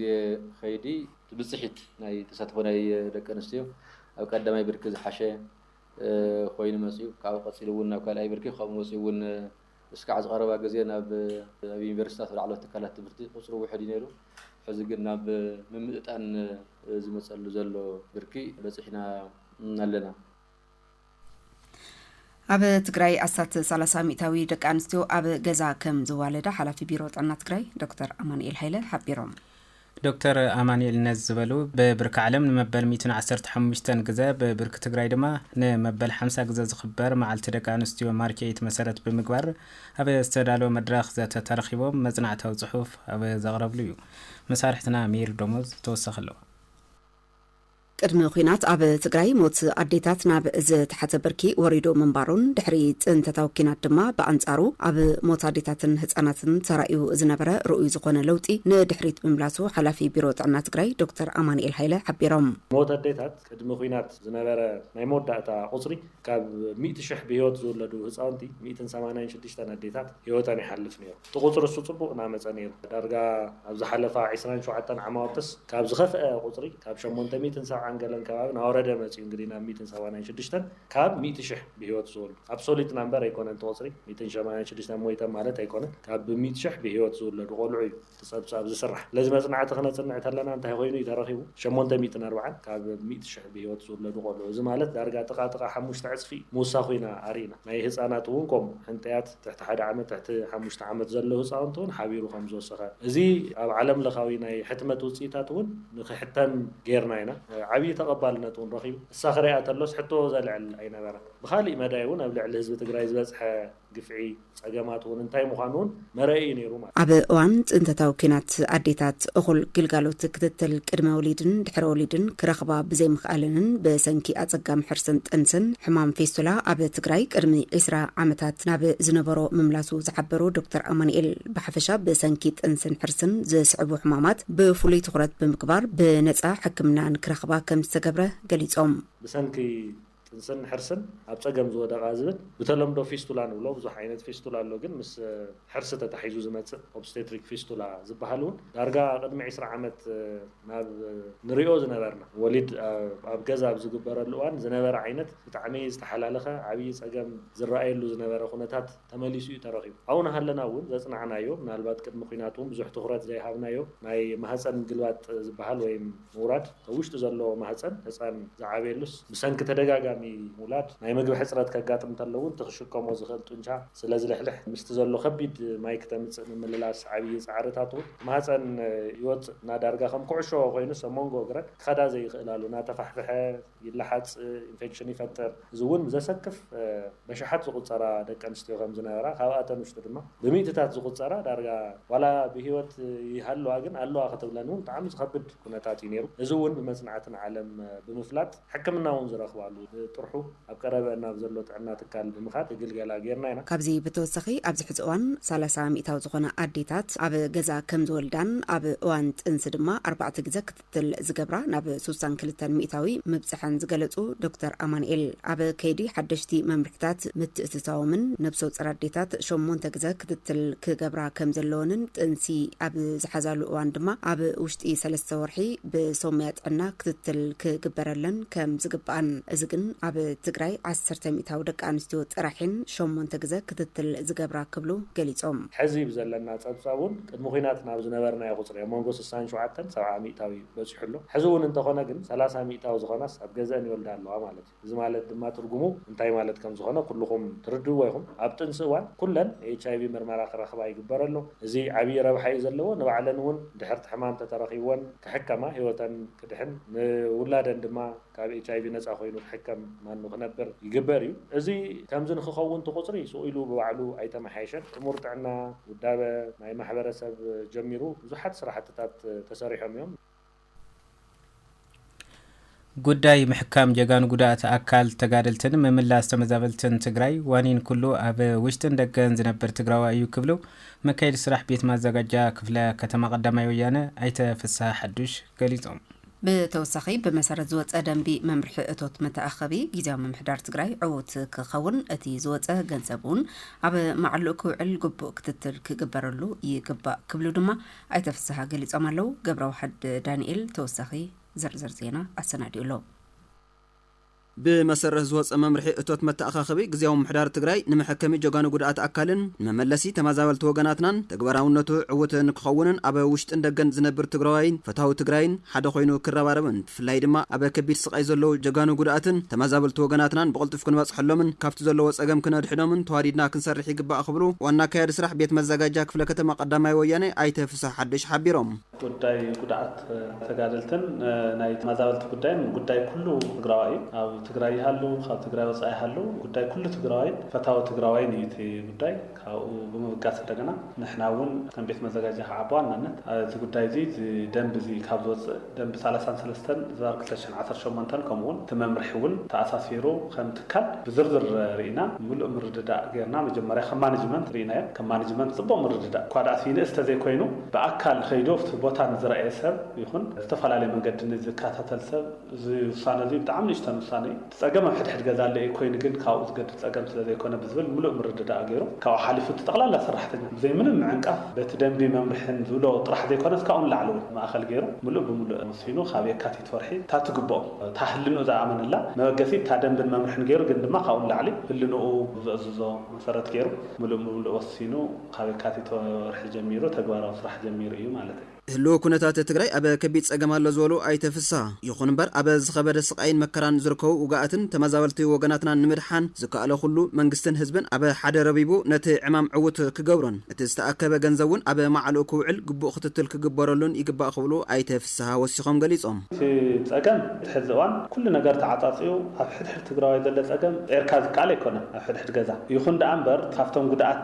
Speaker 6: ከይዲ፣ እቲ ብፅሒት ናይ ተሳትፎ ናይ ደቂ ኣንስትዮ ኣብ ቀዳማይ ብርኪ ዝሓሸ ኮይኑ መፂኡ ካብኡ ቀፂሉ እውን ናብ ካልኣይ ብርኪ ከምኡ ወፂኡ እውን እስካዕ እዚ ቀረባ ግዜ ናብ ኣብ ዩኒቨርሲታት ኣብ ላዕለዎት ትካላት ትምህርቲ ቁፅሩ ውሕድ እዩ ነይሩ። ሕዚ ግን ናብ ምምእጣን ዝመፀሉ ዘሎ ብርኪ በፂሕና ኣለና።
Speaker 1: ኣብ ትግራይ ኣስታት ሰላሳ ሚእታዊ ደቂ ኣንስትዮ ኣብ ገዛ ከም ዝዋለዳ ሓላፊ ቢሮ ጥዕና ትግራይ ዶክተር ኣማኑኤል ሃይለ ሓቢሮም። ዶክተር
Speaker 2: ኣማኑኤል ነዚ ዝበሉ፣ ብብርኪ ዓለም ንመበል ሚእትን ዓሰርተ ሓሙሽተን ግዘ፣ ብብርኪ ትግራይ ድማ ንመበል ሓምሳ ግዘ ዝኽበር መዓልቲ ደቂ ኣንስትዮ ማርቼይት መሰረት ብምግባር ኣብ ዝተዳለወ መድረኽ ዘተ ተረኺቦም መፅናዕታዊ ፅሑፍ ኣብ ዘቕረብሉ ዩ። መሳርሕትና ሜሪ ደሞዝ ተወሳኺ ኣለዋ።
Speaker 1: ቅድሚ ኲናት ኣብ ትግራይ ሞት ኣዴታት ናብ ዝተሓተ ብርኪ ወሪዱ ምንባሩን ድሕሪ ፅንተታዊ ኲናት ድማ ብኣንፃሩ ኣብ ሞት ኣዴታትን ህፃናትን ተራእዩ ዝነበረ ርኡይ ዝኾነ ለውጢ ንድሕሪት ምምላሱ ሓላፊ ቢሮ ጥዕና ትግራይ ዶክተር ኣማኒኤል ሃይለ ሓቢሮም። ሞት ኣዴታት
Speaker 10: ቅድሚ ኲናት ዝነበረ ናይ መወዳእታ ቁፅሪ ካብ ሚእቲ ሽሕ ብህይወት ዝውለዱ ህፃውንቲ ሚእትን ሰማንያን ሽዱሽተን ኣዴታት ህይወተን ይሓልፍ ነይሩ። እቲ ቁጽሪ እሱ ጽቡቕ ናመጸ ነይሩ ዳርጋ ኣብ ዝሓለፋ ዕስራን ሸውዓተን ዓማውትስ ካብ ዝኸፍኣ ቁጽሪ ካብ ሸሞንተ ሚእትን ሰብዓን ገለን ከባቢ ናወረደ መጽዩ እንግዲህ ናብ ሚእትን ሰማንያን ሽዱሽተን ካብ ሚእቲ ሽሕ ብህይወት ዝውሉ ኣብሶሊት ናምበር ኣይኮነን እቲ ቁጽሪ ሚእትን ሸማንያን ሽዱሽተን ሞይተም ማለት ኣይኮነን ካብ ብሚእቲ ሽሕ ብህይወት ዝውለዱ ቆልዑ እዩ እቲ ጸብጻብ ዝስራሕ ስለዚ መጽናዕቲ ክነጽንዕ ተለና እንታይ ኮይኑ እዩ ተረኺቡ ሸሞንተ ሚእትን ኣርብዓን ካብ ሚእቲ ሽሕ ብህይወት ዝውለዱ ቆልዑ እዚ ማለት ዳርጋ ጥቓ ጥቓ ሓሙሽተ ዕጽፊ ምውሳኹ ኢና ኣርኢና ናይ ህጻናት እውን ከምኡ ሕንጥያት ትሕቲ ሓደ ዓመት ትሕቲ ሓሙሽተ ዓመት ዘለዉ ህፃውንቲ እውን ሓቢሩ ከም ዝወሰኸ እዚ ኣብ ዓለም ለኻዊ ናይ ሕትመት ውፅኢታት እውን ንክሕተም ገይርና ኢና ዓብዪ ተቐባልነት እውን ረኺቡ እሳ ክሪኣ ተሎስ ሕቶ ዘልዕል ኣይነበረን ብኻሊእ መዳይ እውን ኣብ ልዕሊ ህዝቢ ትግራይ ዝበፅሐ ግፍዒ ፀገማት እውን እንታይ ምዃኑ እውን መረኢ እዩ ነይሩ ኣብ እዋን ፅንተታዊ
Speaker 1: ኲናት ኣዴታት እኹል ግልጋሎት ክትትል ቅድመ ወሊድን ድሕረ ወሊድን ክረኽባ ብዘይምኽኣለንን ብሰንኪ ኣፀጋሚ ሕርስን ጥንስን ሕማም ፌስቱላ ኣብ ትግራይ ቅድሚ ዕስራ ዓመታት ናብ ዝነበሮ ምምላሱ ዝሓበሩ ዶክተር ኣማኒኤል ብሓፈሻ ብሰንኪ ጥንስን ሕርስን ዝስዕቡ ሕማማት ብፍሉይ ትኹረት ብምግባር ብነፃ ሕክምና ንክረኽባ ከምዝተገብረ ገሊፆም። ብሰንኪ
Speaker 10: ጥንስን ሕርስን ኣብ ጸገም ዝወደቓ ዝብል ብተለምዶ ፊስቱላ ንብሎ ብዙሕ ዓይነት ፊስቱላ ኣሎ ግን ምስ ሕርሲ ተታሒዙ ዝመጽእ ኦብስተትሪክ ፊስቱላ ዝብሃል እውን ዳርጋ ቅድሚ ዕስራ ዓመት ናብ ንሪኦ ዝነበርና ወሊድ ኣብ ገዛ ኣብ ዝግበረሉ እዋን ዝነበረ ዓይነት ብጣዕሚ ዝተሓላለኸ ዓብዪ ጸገም ዝረኣየሉ ዝነበረ ኩነታት ተመሊሱ እዩ ተረኺቡ። ኣብኡ ናሃለና እውን ዘፅናዕናዮ ምናልባት ቅድሚ ኹናት እውን ብዙሕ ትኹረት ዘይሃብናዮ ናይ ማህፀን ምግልባጥ ዝበሃል ወይም ምውራድ ኣብ ውሽጢ ዘሎ ማህፀን ህፃን ዝዓብየሉስ ብሰንኪ ተደጋጋሚ ምውላድ ናይ ምግቢ ሕፅረት ከጋጥም ተሎ እውን እቲ ክሽከሞ ዝኽእል ጡንቻ ስለዝልሕልሕ ምስቲ ዘሎ ከቢድ ማይ ክተምፅእ ምምልላስ ዓብዪ ፃዕርታት እውን ማህፀን ይወፅእ እና ዳርጋ ከም ኩዕሾ ኮይኑስ ኣብ መንጎ እግረን ክኸዳ ዘይኽእላሉ ናተፋሕፍሐ ይለሓጽ፣ ኢንፌክሽን ይፈጥር፣ እዚ እውን ብዘሰክፍ በሽሓት ዝቑጸራ ደቂ ኣንስትዮ ከም ዝነበራ ካብኣተን ውሽጢ ድማ ብሚእትታት ዝቑጸራ ዳርጋ ዋላ ብህይወት ይሃልዋ ግን ኣለዋ ክትብለን እውን ብጣዕሚ ዝኸብድ ኩነታት እዩ ነይሩ። እዚ እውን ብመጽናዕቲ ንዓለም ብምፍላጥ ሕክምና እውን ዝረኽባሉ ጥርሑ ኣብ ቀረበእን ኣብ ዘሎ ጥዕና ትካል ብምኻድ ክግልገላ ገይርና ኢና። ካብዚ ብተወሳኺ ኣብዚ
Speaker 1: ሕዚ እዋን ሰላሳ ሚእታዊ ዝኾና ኣዴታት ኣብ ገዛ ከም ዝወልዳን ኣብ እዋን ጥንሲ ድማ ኣርባዕተ ግዘ ክትል ዝገብራ ናብ ሱሳን ክልተን ሚእታዊ ምብፅሐን ዝገለፁ ዶክተር ኣማንኤል ኣብ ከይዲ ሓደሽቲ መምርሕታት ምትእትታዎምን ነብሰፁር ኣዴታት ሸሞንተ ግዘ ክትትል ክገብራ ከምዘለወንን ጥንሲ ኣብ ዝሓዛሉ እዋን ድማ ኣብ ውሽጢ ሰለስተ ወርሒ ብሶምያ ጥዕና ክትትል ክግበረለን ከም ዝግባኣን እዚ ግን ኣብ ትግራይ ዓሰርተ ሚእታዊ ደቂ ኣንስትዮ ጥራሕን ሸሞንተ ግዘ ክትትል ዝገብራ ክብሉ ገሊፆም። ሕዚ ብዘለና
Speaker 10: ፀብፃብ እውን ቅድሚ ኲናት ናብ ዝነበርናዮ ቁጽሪ ኣብ መንጎ ስሳን ሸውዓተን ሰብዓ ሚእታዊ በጺሑ ኣሎ። ሕዚ እውን እንተኾነ ግን ሰላሳ ሚእታዊ ዝኾናስ ኣብ ገዘእን ይወልዳ ኣለዋ ማለት እዩ። እዚ ማለት ድማ ትርጉሙ እንታይ ማለት ከም ዝኾነ ኩሉኹም ትርድእዎ ኢኹም። ኣብ ጥንሲ እዋን ኩለን ኤችኣይቪ ምርመራ ክረኽባ ይግበር ኣሎ። እዚ ዓብዪ ረብሓ እዩ ዘለዎ። ንባዕለን እውን ድሕርቲ ሕማም ተተረኺብወን ክሕከማ፣ ህይወተን ክድሕን፣ ንውላደን ድማ ካብ ኤችኣይቪ ነጻ ኮይኑ ክሕከም ማን ንክነብር ይግበር እዩ። እዚ ከምዚ ንክኸውን እቲ ቁጽሪ ሱቕ ኢሉ ብባዕሉ ኣይተመሓየሸን። ጥሙር ጥዕና፣ ውዳበ ናይ ማሕበረሰብ ጀሚሩ ብዙሓት ስራሕትታት ተሰሪሖም እዮም።
Speaker 2: ጉዳይ ምሕካም ጀጋኑ ጉዳእት ኣካል ተጋደልትን ምምላስ ተመዛበልትን ትግራይ ዋኒን ኩሉ ኣብ ውሽጥን ደገን ዝነብር ትግራዋ እዩ ክብሉ መካየዲ ስራሕ ቤት ማዘጋጃ ክፍለ ከተማ ቀዳማይ ወያነ ኣይተ ፍስሃ ሓዱሽ ገሊፆም። ብተወሳኺ
Speaker 1: ብመሰረት ዝወፀ ደንቢ መምርሒ እቶት መተኣኸቢ ጊዚያዊ ምምሕዳር ትግራይ ዕውት ክኸውን እቲ ዝወፀ ገንዘብ እውን ኣብ ማዕልኡ ክውዕል ግቡእ ክትትል ክግበረሉ ይግባእ ክብሉ ድማ ኣይተ ፍስሃ ገሊፆም ኣለው። ገብረዋሕድ ዳኒኤል ተወሳኺ ዝርዝር ዜና ኣሰናዲኡ ኣሎ።
Speaker 11: ብመሰረት ዝወፀ መምርሒ እቶት መተኣኻኸቢ ግዝያዊ ምምሕዳር ትግራይ ንመሐከሚ ጀጋኑ ጉድኣት ኣካልን ንመመለሲ ተመዛበልቲ ወገናትናን ተግባራውነቱ ዕውት ንክኸውንን ኣብ ውሽጥን ደገን ዝነብር ትግራዋይን ፈታዊ ትግራይን ሓደ ኮይኑ ክረባረብን ብፍላይ ድማ ኣብ ከቢድ ስቓይ ዘለዉ ጀጋኑ ጉድኣትን ተመዛበልቲ ወገናትናን ብቕልጡፍ ክንበፅሐሎምን ካብቲ ዘለዎ ፀገም ክነድሕኖምን ተዋዲድና ክንሰርሕ ይግባእ ክብሉ ዋና ኣካያዲ ስራሕ ቤት መዘጋጃ ክፍለ ከተማ ቀዳማይ ወያኔ ኣይተ ፍስሃ ሓዱሽ ሓቢሮም። ጉዳይ ጉድኣት
Speaker 6: ተጋደልትን ናይ ተመዛበልቲ ጉዳይን ጉዳይ ኩሉ ትግራዋይ እዩ። ኣብ ትግራይ ይሃሉ ካብ ትግራይ ወፃኢ ይሃሉ ጉዳይ ኩሉ ትግራዋይን ፈታዊ ትግራዋይን እዩ እቲ ጉዳይ። ካብኡ ብምብጋስ እንደገና ንሕና እውን ከም ቤት መዘጋጃ ከዓ ብዋናነት እቲ ጉዳይ እዚ እዚ ደንቢ እዚ ካብ ዝወፅእ ደንቢ ሰላሳን ሰለስተን ዝባር ክልተ ዓሰርተ ሸሞንተ ከምኡውን እቲ መምርሒ እውን ተኣሳሲሩ ከም ትካል ብዝርዝር ርኢና ምሉእ ምርድዳእ ገይርና መጀመርያ ከም ማነጅመንት ርኢናዮ ከም ማነጅመንት ፅቡቕ ምርድዳእ እኳ ድኣ ስይንእስ ተዘይኮይኑ ብኣካል ኸይዱ ኣብቲ ቦታ ንዝረኣየ ሰብ ይኹን ብዝተፈላለየ መንገዲ ንዝከታተል ሰብ እዚ ውሳነ እዙይ ብጣዕሚ ንእሽተን ውሳነ እዩ እቲ ፀገም ኣብ ሕድሕድ ገዛ ኣሎ እዩ ኮይኑ ግን ካብኡ ዝገድፍ ፀገም ስለዘይኮነ ብዝብል ምሉእ ምርድዳእ ገይሩ ካብኡ ሓሊፉ እቲ ጠቕላላ ሰራሕተኛ ብዘይ ምንም ምዕንቃፍ በቲ ደንቢ መምርሕን ዝብሎ ጥራሕ ዘይኮነስ ካብኡ ንላዕሊ እውን ማእኸል ገይሩ ምሉእ ብምሉእ ሲኖ ካብ የካቲት ወርሒ እታ ትግብኦ እታ ህልንኡ ዝኣመነላ መበገሲት እታ ደንብን መምርሕን ገይሩ ግን ድማ ካብኡ ንላዕሊ ህልንኡ ዘእዝዞ መሰረት ገይሩ ምሉእ ብምሉእ ወሲኑ ካብ የካቲት ወርሒ ጀሚሩ ተግባራዊ ስራሕ ጀሚሩ እዩ ማለት እዩ። ህልዊ
Speaker 11: ኩነታት ትግራይ ኣብ ከቢድ ፀገም ኣሎ ዝበሉ ኣይተ ፍስሃ፣ ይኹን እምበር ኣብ ዝኸበደ ስቓይን መከራን ዝርከቡ ውጉኣትን ተመዛበልቲ ወገናትናን ንምድሓን ዝከኣሎ ኩሉ መንግስትን ህዝብን ኣብ ሓደ ረቢቡ ነቲ ዕማም ዕዉት ክገብሮን እቲ ዝተኣከበ ገንዘብ እውን ኣብ ማዕልኡ ክውዕል ግቡእ ክትትል ክግበረሉን ይግባእ ክብሉ ኣይተ ፍስሃ ወሲኾም ገሊፆም። እቲ ፀገም
Speaker 6: እቲ ሕዚ እዋን ኩሉ ነገር ተዓፃፂዩ ኣብ ሕድሕድ ትግራዋይ ዘለ ፀገም ጼርካ ዝከኣል ኣይኮነን ኣብ ሕድሕድ ገዛ ይኹን ደኣ እምበር ካብቶም ጉድኣት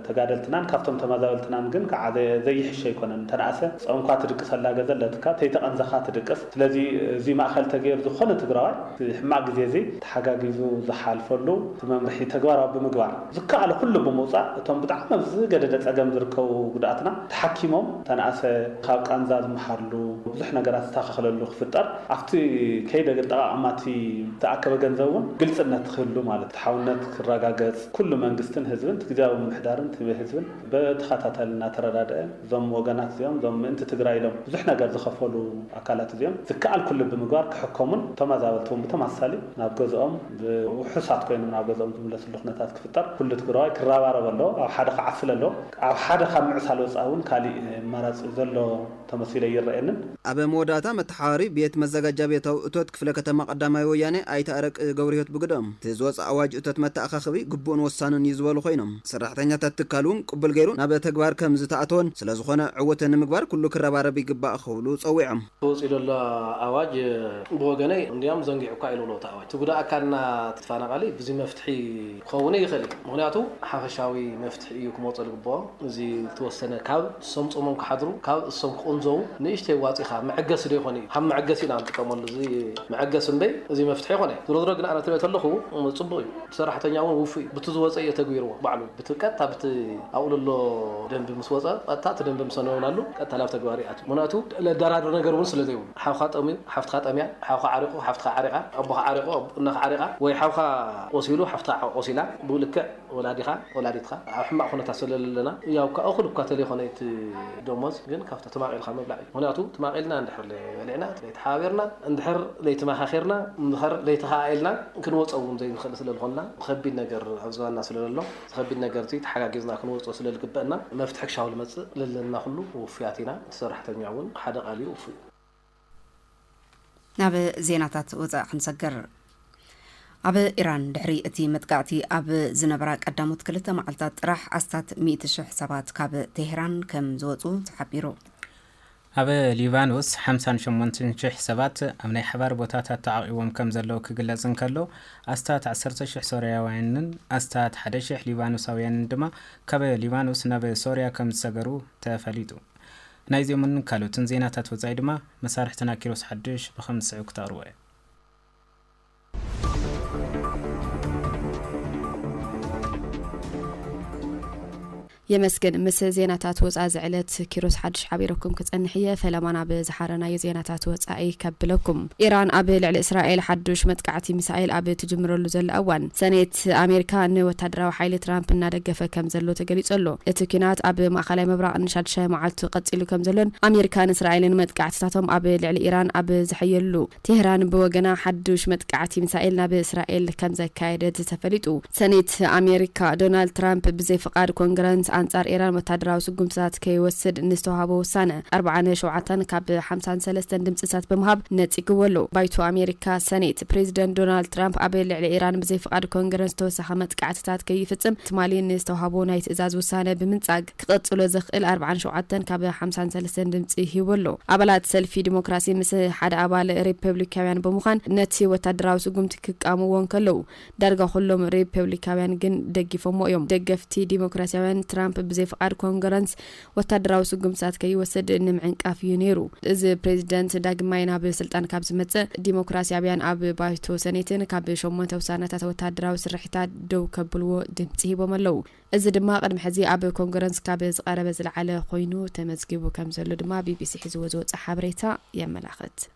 Speaker 6: ተጋደልትናን ካብቶም ተማዛበልትናን ግን ከዓ ዘይሕሽ ኣይኮነን እንተነኣሰ ፆምኳ ትድቅሰላ ገዘ ኣለትካ ተይተቐንዘኻ ትድቅስ ስለዚ እዙይ ማእኸል ተገይሩ ዝኾነ ትግራዋይ እቲ ሕማቕ ግዜ እዙይ ተሓጋጊዙ ዝሓልፈሉ እቲ መምርሒ ተግባራዊ ብምግባር ዝከኣሎ ኩሉ ብምውፃእ እቶም ብጣዕሚ ኣብ ዝገደደ ፀገም ዝርከቡ ጉዳኣትና ተሓኪሞም ተናእሰ ካብ ቃንዛ ዝመሓርሉ ብዙሕ ነገራት ዝታኸኸለሉ ክፍጠር ኣብቲ ከይዲ ኣጠቓቕማ እቲ ዝተኣከበ ገንዘብ እውን ግልፅነት ክህሉ ማለት ፍትሓውነት ክረጋገፅ ኩሉ መንግስትን ህዝብን እቲ ግዝያዊ ምምሕዳርን እቲ ህዝብን ብተኸታታሊ እናተረዳደኣ እዞም ወገናት እዚኦም እዞም ምእንቲ ትግራይ ኢሎም ብዙሕ ነገር ዝኸፈሉ ኣካላት እዚኦም ዝከኣል ኩሉ ብምግባር ክሕከሙን ተማዛበልቲ እውን ብተመሳሳሊ ናብ ገዝኦም ብውሑሳት ኮይኖም ናብ ገዝኦም ዝምለስሉ ኩነታት ክፍጠር ኩሉ ትግረዋይ ክረባረብ ኣለዎ ኣብ ሓደ ክዓስል ኣለዎ ኣብ ሓደ ካብ ምዕሳል ወፃኢ እውን ካሊእ ኣማራፂ ዘሎ ተመሲሉ ኣይረኣየንን። ኣብ መወዳእታ
Speaker 11: መተሓባሪ ቤት መዘጋጃቤታዊ እቶት ክፍለ ከተማ ቀዳማይ ወያኔ ኣይተ ኣረቂ ገብርሂወት ብግደኦም፣ እቲ ዝወፀ ኣዋጅ እቶት መተኣኻኸቢ ግቡእን ወሳንን እዩ ዝበሉ ኮይኖም፣ ሰራሕተኛታት ትካል እውን ቅቡል ገይሩ ናብ ተግባር ከምዝተኣተወን ስለዝኾነ ዕውት ንምግባር ኩሉ ክረባረብ ይግባእ ክብሉ ፀዊዖም። ተወጺኡ ዘሎ
Speaker 12: ኣዋጅ ብወገነይ እንድያም ዘንጊዑ እኳ ኢዩ ዝብሎ እቲ ኣዋጅ። እቲ ጉዳእ ኣካልና እቲ ተፋናቃሊ ብዚ መፍትሒ ክኸውን እይኽእል እዩ። ምኽንያቱ ሓፈሻዊ መፍትሒ እዩ ክመጾ ዝግብኦ። እዚ ዝተወሰነ ካብ እሶም ጾሞም ክሓድሩ ካብ እሶም ክቁንዘዉ ንእሽተይ ዋጺኻ መዐገሲ ዶ ይኾን እዩ። ሃም መዐገሲ ኢና ንጥቀመሉ እዚ መዐገሲ እምበይ እዚ መፍትሒ ኣይኮነይ። ዝሮዝሮ ግን ኣነ ትሪኦ ተለኹ ጽቡቅ እዩ። ሰራሕተኛ ውን ውፉይ እዩ ብቲ ዝወጸ እዩ የተግቢርዎ ባዕሉ ብቲ ቀጥታ ብቲ ኣብኡ ለሎ ደንቢ ምስ ወጸ ቀጥታ እቲ ደንቢ ምስ ኣነውናሉ ቀጥታ ናብ ተግባር ይኣቱ ምክንያቱ ለዳራድር ነገር ውን ስለ ዘይብሉ ሓውካ ጠምዩ ሓፍትካ ጠምያ ሓውካ ዓሪቁ ሓፍትካ ዓሪቃ ኣቦካ ዓሪቁ እናካ ዓሪቃ ወይ ሓውካ ቆሲሉ ሓፍትካ ቆሲላ ብልክዕ ወላዲካ ወላዲትካ ኣብ ሕማቅ ኩነታት ስለ ለለና ያው ካብ እኩል እኳ ተለይኮነ እቲ ደሞዝ ግን ትማቅ ኢልካ ምብላዕ እዩ ምክንያቱ ትማቅ ኢልና እንድሕር ለይበሊዕና ለይተሓባቢርና እንድሕር ለይተማካኪርና እንድሕር ለይተከኣኢልና ክንወፆ እውን ዘይንክእል ስለልኮና ብከቢድ ነገር ኣብ ዝባንና ስለለሎ እዚ ከቢድ ነገር እዚ ተሓጋጊዝና ክንወፆ ስለልግበእና መፍትሒ ክሻው ልመፅእ ለለና ኩሉ ውፉያት ኢና እቲ ሰራሕተኛ እውን ሓደ ቃል እዩ ውፉይ
Speaker 1: ናብ ዜናታት ወፃኢ ክንሰግር። ኣብ ኢራን ድሕሪ እቲ መጥቃዕቲ ኣብ ዝነበራ ቀዳሞት ክልተ መዓልታት ጥራሕ ኣስታት ሚእቲ ሽሕ ሰባት ካብ ቴሄራን ከም ዝወፁ ተሓቢሩ።
Speaker 2: ኣብ ሊባኖስ ሓምሳን ሸሞንትን ሽሕ ሰባት ኣብ ናይ ሓባር ቦታታት ተዓቚቦም ከም ዘለዉ ክግለጽ እንከሎ፣ ኣስታት ዓሰርተ ሽሕ ሶርያውያንን ኣስታት ሓደ ሽሕ ሊባኖሳውያንን ድማ ካብ ሊባኖስ ናብ ሶርያ ከም ዝሰገሩ ተፈሊጡ። ናይዚኦምን ካልኦትን ዜናታት ወጻኢ ድማ መሳርሕትና ኪሮስ ሓዱሽ ብኸም ዝስዕብ ክተቕርቦ እየ።
Speaker 13: የመስግን። ምስ ዜናታት ወጻኢ ዝዕለት ኪሮስ ሓዱሽ ሓቢረኩም ክጸንሕ እየ። ፈለማ ናብ ዝሓረናዮ ዜናታት ወጻኢ ከብለኩም። ኢራን ኣብ ልዕሊ እስራኤል ሓዱሽ መጥቃዕቲ ሚሳኤል ኣብ ትጅምረሉ ዘላ እዋን፣ ሰኔት፣ ፕረዚደንት ኣሜሪካ ንወታደራዊ ሓይሊ ትራምፕ እናደገፈ ከም ዘሎ ተገሊጹ ኣሎ። እቲ ኲናት ኣብ ማእከላይ ምብራቕ ንሻድሻይ መዓልቱ ቀጺሉ ከም ዘሎን ኣሜሪካን እስራኤልን መጥቃዕትታቶም ኣብ ልዕሊ ኢራን ኣብ ዝሕየልሉ፣ ቴህራን ብወገና ሓዱሽ መጥቃዕቲ ሚሳኤል ናብ እስራኤል ከም ዘካየደት ተፈሊጡ። ሰኔት ኣሜሪካ፣ ዶናልድ ትራምፕ ብዘይ ፍቓድ ኮንግረንስ ኣንጻር ኢራን ወታደራዊ ስጉምትታት ከይወስድ ንዝተዋህቦ ውሳነ፣ ኣርብዓን ሸውዓተን ካብ ሓምሳን ሰለስተን ድምጺታት ብምሃብ ነጺግዎ ኣሎ። ባይቶ ኣሜሪካ፣ ሰኔት፣ ፕሬዚደንት ዶናልድ ትራምፕ ኣብ ልዕሊ ኢራን ብዘይ ፍቓድ ኮንግረስ ተወሳኺ መጥቃዕቲታት ከይፍጽም ትማሊ ንዝተውሃቦ ናይ ትእዛዝ ውሳነ ብምንጻግ ክቕጽሎ ዘኽእል ኣርብዓን ሸውዓተን ካብ ሓምሳን ሰለስተን ድምጺ ሂቡ ኣሎ። ኣባላት ሰልፊ ዲሞክራሲ ምስ ሓደ ኣባል ሪፐብሊካውያን ብምዃን ነቲ ወታደራዊ ስጉምቲ ክቃወምዎ እንከለዉ ዳርጋ ኩሎም ሪፐብሊካውያን ግን ደጊፎምዎ እዮም። ደገፍቲ ዲሞክራሲያውያን ትራምፕ ብዘይ ፍቓድ ኮንግረንስ ወታደራዊ ስጉምትታት ከይወስድ ንምዕንቃፍ እዩ ነይሩ። እዚ ፕሬዚደንት ዳግማይ ናብ ስልጣን ካብ ዝመፅእ ዲሞክራሲያዊያን ኣብ ባይቶ ሰኔትን ካብ ሸሞንተ ውሳነታት ወታደራዊ ስርሒታት ደው ከብልዎ ድምፂ ሂቦም ኣለው። እዚ ድማ ቅድሚ ሕዚ ኣብ ኮንግረንስ ካብ ዝቐረበ ዝለዓለ ኮይኑ ተመዝጊቡ ከምዘሎ ድማ ቢቢሲ ሒዝዎ ዝወፅኦ ሓበሬታ የመላኽት።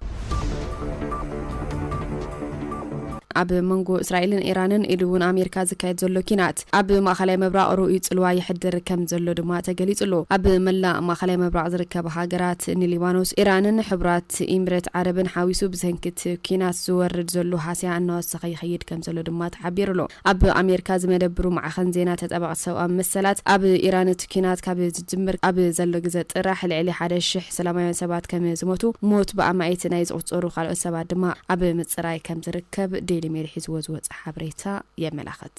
Speaker 13: ኣብ መንጎ እስራኤልን ኢራንን ኢሉ እውን ኣሜሪካ ዝካየድ ዘሎ ኪናት ኣብ ማእኸላይ ምብራቕ ርኡይ ፅልዋ የሕድር ከም ዘሎ ድማ ተገሊፁ ኣሎ። ኣብ መላእ ማእኸላይ ምብራቕ ዝርከባ ሃገራት ንሊባኖስ፣ ኢራንን ሕቡራት ኢምሬት ዓረብን ሓዊሱ ብሰንኪ እቲ ኪናት ዝወርድ ዘሎ ሃስያ እናወሰኸ ይኸይድ ከም ዘሎ ድማ ተሓቢሩ ኣሎ። ኣብ ኣሜሪካ ዝመደብሩ ማዕኸን ዜና ተጣበቕቲ ሰብኣዊ መሰላት ኣብ ኢራን እቲ ኪናት ካብ ዝጅምር ኣብ ዘሎ ግዘ ጥራሕ ልዕሊ ሓደ ሽሕ ሰላማውያን ሰባት ከም ዝሞቱ ሞት ብኣማኢት ናይ ዝቑጸሩ ካልኦት ሰባት ድማ ኣብ ምጽራይ ከም ዝርከብ ዴይሊ ሜል ሒዝዎ ዝወጸ ሓበሬታ የመላኽት።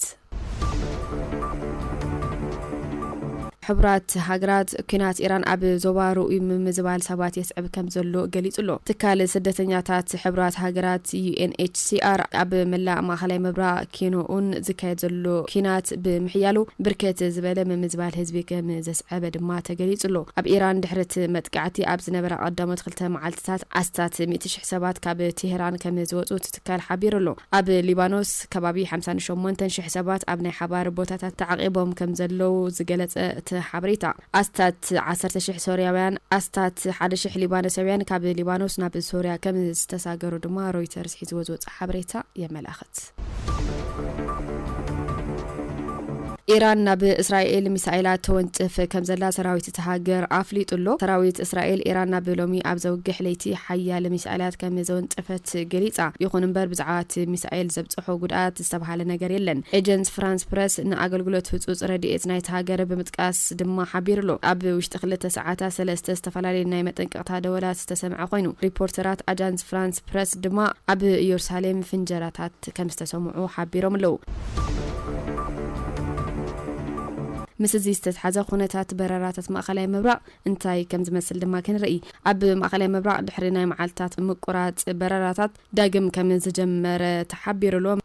Speaker 13: ሕቡራት ሃገራት፣ ኲናት ኢራን ኣብ ዞባ ርኡይ ምምዝባል ሰባት የስዕብ ከም ዘሎ ገሊጹ ኣሎ። ትካል ስደተኛታት ሕቡራት ሃገራት፣ UNHCR፣ ኣብ መላእ ማእከላይ ምብራቕ ኪኖኡን ዝካየድ ዘሎ ኲናት ብምሕያሉ ብርክት ዝበለ ምምዝባል ህዝቢ ከም ዕበ ድማ ተገሊጹ ኣሎ። ኣብ ኢራን ድሕሪ እቲ መጥቃዕቲ ኣብ ዝነበራ ቀዳሞት ክልተ መዓልትታት ኣስታት ሚእቲ ሽሕ ሰባት ካብ ቴህራን ከም ዝወጹ እቲ ትካል ሓቢሩ ኣሎ። ኣብ ሊባኖስ ከባቢ ሓምሳን ሸሞንተን ሽሕ ሰባት ኣብ ናይ ሓባር ቦታታት ተዓቚቦም ከም ዘለዉ ዝገለጸ እቲ ሓበሬታ፣ ኣስታት ዓሰርተ ሽሕ ሶርያውያን ኣስታት ሓደ ሽሕ ሊባኖሰውያን ካብ ሊባኖስ ናብ ሶርያ ከም ዝተሳገሩ ድማ ሮይተርስ ሒዝዎ ዝወጽኦ ሓበሬታ የመላኽት። ኢራን ናብ እስራኤል ሚሳኤላት ተወንጭፍ ከምዘላ ሰራዊት እታ ሃገር ኣፍሊጡ'ሎ። ሰራዊት እስራኤል፣ ኢራን ናብ ሎሚ ኣብ ዘውግሕ ለይቲ ሓያለ ሚሳኤላት ከም ዘወንጨፈት ገሊጻ። ይኹን እምበር ብዛዕባ እቲ ሚሳኤል ዘብጸሖ ጉድኣት ዝተብሃለ ነገር የለን። ኤጀንስ ፍራንስ ፕረስ ንኣገልግሎት ህጹጽ ረድኤት ናይታ ሃገር ብምጥቃስ ድማ ሓቢሩ'ሎ። ኣብ ውሽጢ ክልተ ሰዓታት ሰለስተ ዝተፈላለዩ ናይ መጠንቀቕታ ደወላት ዝተሰምዐ ኮይኑ፣ ሪፖርተራት ኣጃንስ ፍራንስ። ፕረስ ድማ ኣብ ኢየሩሳሌም ፍንጀራታት ከም ዝተሰምዑ ሓቢሮም ኣለዉ። ምስ እዚ ዝተትሓዘ ኩነታት በረራታት ማእኸላይ ምብራቕ እንታይ ከም ዝመስል ድማ ክንርኢ። ኣብ ማእኸላይ ምብራቕ ድሕሪ ናይ መዓልታት ምቁራፅ በረራታት ዳግም ከም ዝጀመረ ተሓቢሩ ኣሎ።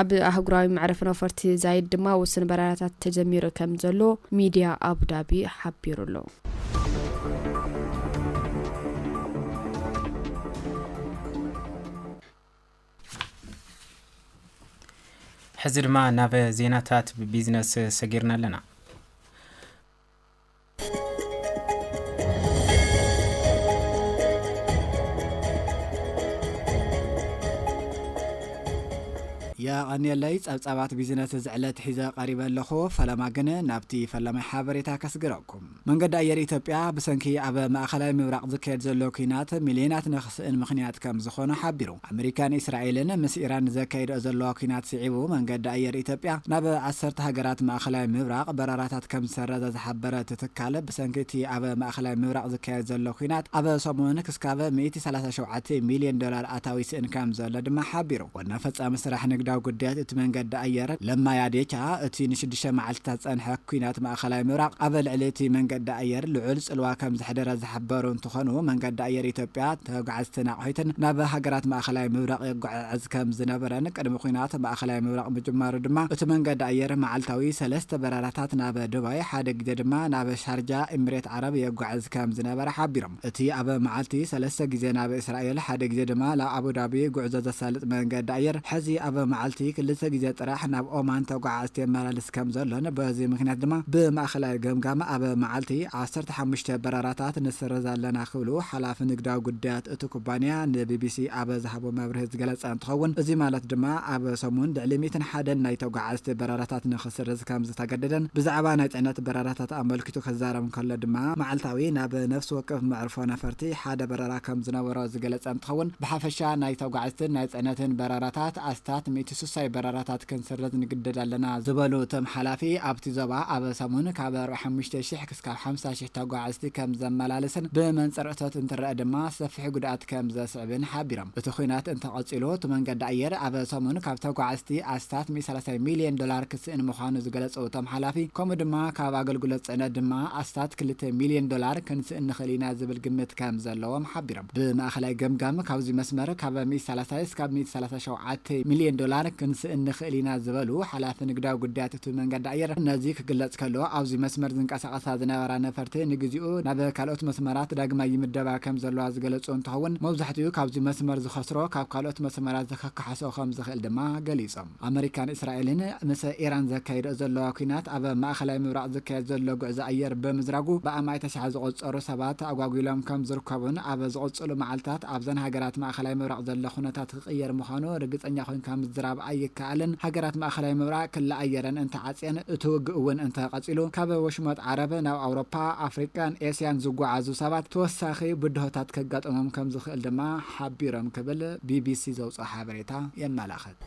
Speaker 13: ኣብ ኣህጉራዊ መዕረፊ ነፈርቲ ዛይድ ድማ ውሱን በረራታት ተጀሚሩ ከም ዘሎ ሚድያ ኣቡዳቢ ሓቢሩ ኣሎ።
Speaker 2: ሕዚ ድማ ናብ ዜናታት ቢዝነስ ሰጊርና ኣለና።
Speaker 14: የቐንየለይ ጸብጻባት ቢዝነስ እዚ ዕለት ሒዘ ቀሪበ ኣለኹ። ፈለማ ግን ናብቲ ፈላማይ ሓበሬታ ከስግረኩም። መንገዲ ኣየር ኢትዮጵያ ብሰንኪ ኣብ ማእኸላይ ምብራቕ ዝካየድ ዘሎ ኲናት ሚልዮናት ንኽስእን ምኽንያት ከም ዝኾነ ሓቢሩ። ኣመሪካን እስራኤልን ምስ ኢራን ዘካይድኦ ዘለዋ ኲናት ስዒቡ መንገዲ ኣየር ኢትዮጵያ ናብ ዓሰርተ ሃገራት ማእኸላይ ምብራቕ በረራታት ከም ዝሰረዘ ዝሓበረ እቲ ትካል ብሰንኪ እቲ ኣብ ማእኸላይ ምብራቕ ዝካየድ ዘሎ ኲናት ኣብ ሰሙን ክስካብ ሚእቲ ሰላሳ ሸውዓተ ሚልየን ዶላር ኣታዊ ይስእን ከም ዘሎ ድማ ሓቢሩ። ዋና ፈፃሚ ስራሕ ንግዳዊ ጉዳያት እቲ መንገዲ ኣየር ለማ ያዴቻ እቲ ንሽዱሽተ መዓልቲታት ዝፀንሐ ኲናት ማእኸላይ ምብራቕ ኣብ ልዕሊ እቲ መንገዲ ኣየር ልዑል ፅልዋ ከም ዘሕደረ ዝሓበሩ እንትኾኑ መንገዲ ኣየር ኢትዮጵያ ተጓዓዝተን ኣቑሒተን ናብ ሃገራት ማእኸላይ ምብራቕ የጓዓዕዝ ከም ዝነበረን ቅድሚ ኲናት ማእኸላይ ምብራቕ ምጅማሩ ድማ እቲ መንገዲ ኣየር መዓልታዊ ሰለስተ በረራታት ናብ ዱባይ ሓደ ግዜ ድማ ናብ ሻርጃ ኢምሬት ዓረብ የጓዕዝ ከም ዝነበረ ሓቢሮም። እቲ ኣብ መዓልቲ ሰለስተ ግዜ ናብ እስራኤል ሓደ ግዜ ድማ ናብ ኣቡዳቢ ጉዕዞ ዘሳልጥ መንገዲ ኣየር ሕዚ ኣብ መዓልቲ ክልተ ግዜ ጥራሕ ናብ ኦማን ተጓዓዕዝቲ የመላልስ ከም ዘሎን በዚ ምኽንያት ድማ ብማእኸላይ ገምጋም ኣብ መዓልቲ ዓሰርተ ዓሰርተ ሓሙሽተ በረራታት ንስርዝ ኣለና ክብሉ ሓላፊ ንግዳዊ ጉዳያት እቲ ኩባንያ ንቢቢሲ ኣብ ዝሃቦ መብርሂ ዝገለፀ እንትኸውን እዚ ማለት ድማ ኣብ ሰሙን ልዕሊ ሚእትን ሓደን ናይ ተጓዓዝቲ በረራታት ንክስርዝ ከምዝተገደደን ብዛዕባ ናይ ፅዕነት በረራታት ኣመልኪቱ ክዛረብ እንከሎ ድማ መዓልታዊ ናብ ነፍሲ ወከፍ መዕርፎ ነፈርቲ ሓደ በረራ ከምዝነበሮ ዝገለፀ እንትኸውን ብሓፈሻ ናይ ተጓዓዝትን ናይ ፅዕነትን በረራታት ኣስታት ሚእቲ ሱሳይ በረራታት ክንስርዝ ንግደድ ኣለና ዝበሉ እቶም ሓላፊ ኣብቲ ዞባ ኣብ ሰሙን ካብ ኣርብዓ ሓሙሽተ ሽሕ እስካብ ሓምሳ ሽሕ ተጓዓዝቲ ከም ዘመላልስን ብመንፅር እቶት እንትረኣ ድማ ሰፊሕ ጉድኣት ከም ዘስዕብን ሓቢሮም። እቲ ኹናት እንተቐፂሉ እቲ መንገዲ ኣየር ኣብ ሰሙን ካብ ተጓዓዝቲ ኣስታት ሚእቲ ሰላሳ ሚሊየን ዶላር ክስእን ምዃኑ ዝገለፁ እቶም ሓላፊ ከምኡ ድማ ካብ ኣገልግሎት ፅዕነት ድማ ኣስታት ክልተ ሚሊየን ዶላር ክንስእን ንኽእል ኢና ዝብል ግምት ከም ዘለዎም ሓቢሮም። ብማእኸላይ ገምጋም ካብዙይ መስመር ካብ ሚእቲ ሰላሳ እስካብ ሚእቲ ሰላሳ ሸውዓተ ሚሊየን ዶላር ክንስእን ንኽእል ኢና ዝበሉ ሓላፊ ንግዳዊ ጉዳያት እቲ መንገዲ ኣየር ነዚ ክግለጽ ከሎ፣ ኣብዚ መስመር ዝንቀሳቐሳ ዝነበራ ነፈርቲ ንግዚኡ ናብ ካልኦት መስመራት ዳግማይ ይምደባ ከም ዘለዋ ዝገለጹ እንትኸውን፣ መብዛሕቲኡ ካብዚ መስመር ዝኸስሮ ካብ ካልኦት መስመራት ዘከካሕሶ ከም ዝኽእል ድማ ገሊጾም። ኣመሪካን እስራኤልን ምስ ኢራን ዘካይድኦ ዘለዋ ኲናት ኣብ ማእከላይ ምብራቕ ዝካየድ ዘሎ ጉዕዞ ኣየር ብምዝራጉ ብኣማኢት ኣሽሓት ዝቑጸሩ ሰባት ተኣጓጒሎም ከም ዝርከቡን ኣብ ዝቕጽሉ መዓልታት ኣብዘን ሃገራት ማእከላይ ምብራቕ ዘሎ ኩነታት ክቕየር ምዃኑ ርግጸኛ ኮይንካ ምዝራብ ኣይከኣልን። ሃገራት ማእከላይ ምብራቕ ክሊ ኣየረን እንተ ዓጽየን፣ እቲ ውግእ እውን እንተ ቀጺሉ፣ ካብ ወሽመጥ ዓረብ ናብ ኣውሮፓ፣ ኣፍሪቃን ኤስያን ዝጓዓዙ ሰባት ተወሳኺ ብድሆታት ከጋጥሞም ከም ዝኽእል ድማ ሓቢሮም ክብል ቢቢሲ ዘውጽኦ ሓበሬታ የመላኽት።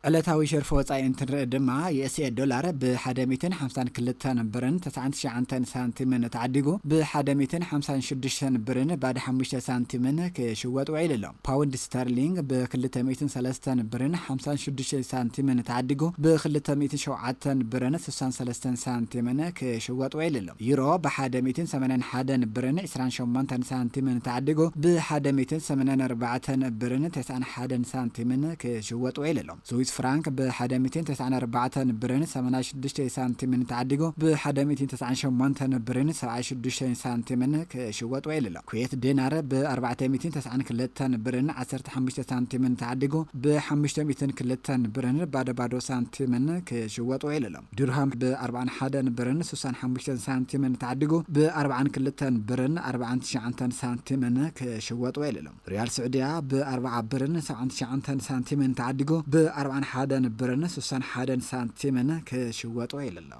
Speaker 14: ዕለታዊ ሸርፊ ወጻኢ እንትንርኢ ድማ፣ ዩኤስኤ ዶላር ብ ሓደ ሚእትን ሓምሳን ክልተን ብርን፣ ትስዓን ትሽዓንተን ሳንቲምን ተዓዲጉ ብ ሓደ ሚእትን ሓምሳን ሽዱሽተን ብርን ባድ ሓሙሽተ ሳንቲምን ክሽወጥ ውዒሉ ኣሎ። ፓውንድ ስተርሊንግ ብ ክልተ ሚእትን ሰለስተን ብርን ሓምሳን ሽዱሽተን ሳንቲምን ተዓዲጉ ብ ክልተ ሚእትን ሸውዓተን ብርን ስሳን ሰለስተን ሳንቲምን ክሽወጥ ውዒሉ ኣሎ። ዩሮ ብ ሓደ ሚእትን ሰማንያን ሓደን ብርን ዕስራን ሸሞንተን ሳንቲምን ተዓዲጉ ብ ሓደ ሚእትን ሰማንያን ኣርባዕተን ብርን ተስዓን ሓደን ሳንቲምን ክሽወጥ ውዒሉ ኣሎ። ስዊስ ፍራንክ ብሓደ ሚእቲን ተስዓን ኣርባዕተን ብርን ሰማንያ ሽዱሽተይ ሳንቲምን ተዓዲጉ ብሓደ ሚእቲን ተስዓን ሸሞንተን ብርን ሰብዓይ ሽዱሽተይን ሳንቲምን ክሽወጥ ውዒሉ ኣሎ። ኩዌት ዲናር ብኣርባዕተ ሚእቲን ተስዓን ክልተን ብርን ዓሰርተ ሓሙሽተ ሳንቲምን ተዓዲጉ ብሓሙሽተ ሚእቲን ክልተን ብርን ባዶ ባዶ ሳንቲምን ክሽወጥ ውዒሉ ኣሎ። ዲርሃም ብኣርብዓን ሓደን ብርን ስሳን ሓሙሽተን ሳንቲምን ተዓዲጉ ብኣርብዓን ክልተን ብርን ኣርብዓን ትሽዓንተን ሳንቲምን ክሽወጥ ውዒሉ ኣሎ። ሪያል ስዑድያ ብ ኣርብዓ ብርን ሰብዓን ትሽዓንተን ሳንቲምን ተዓዲጉ ብ ኣርብዓን ሓደን ብርን ሱሳን ሓደን ሳንቲምን ክሽወጥ ወዒሉ ኣሎ።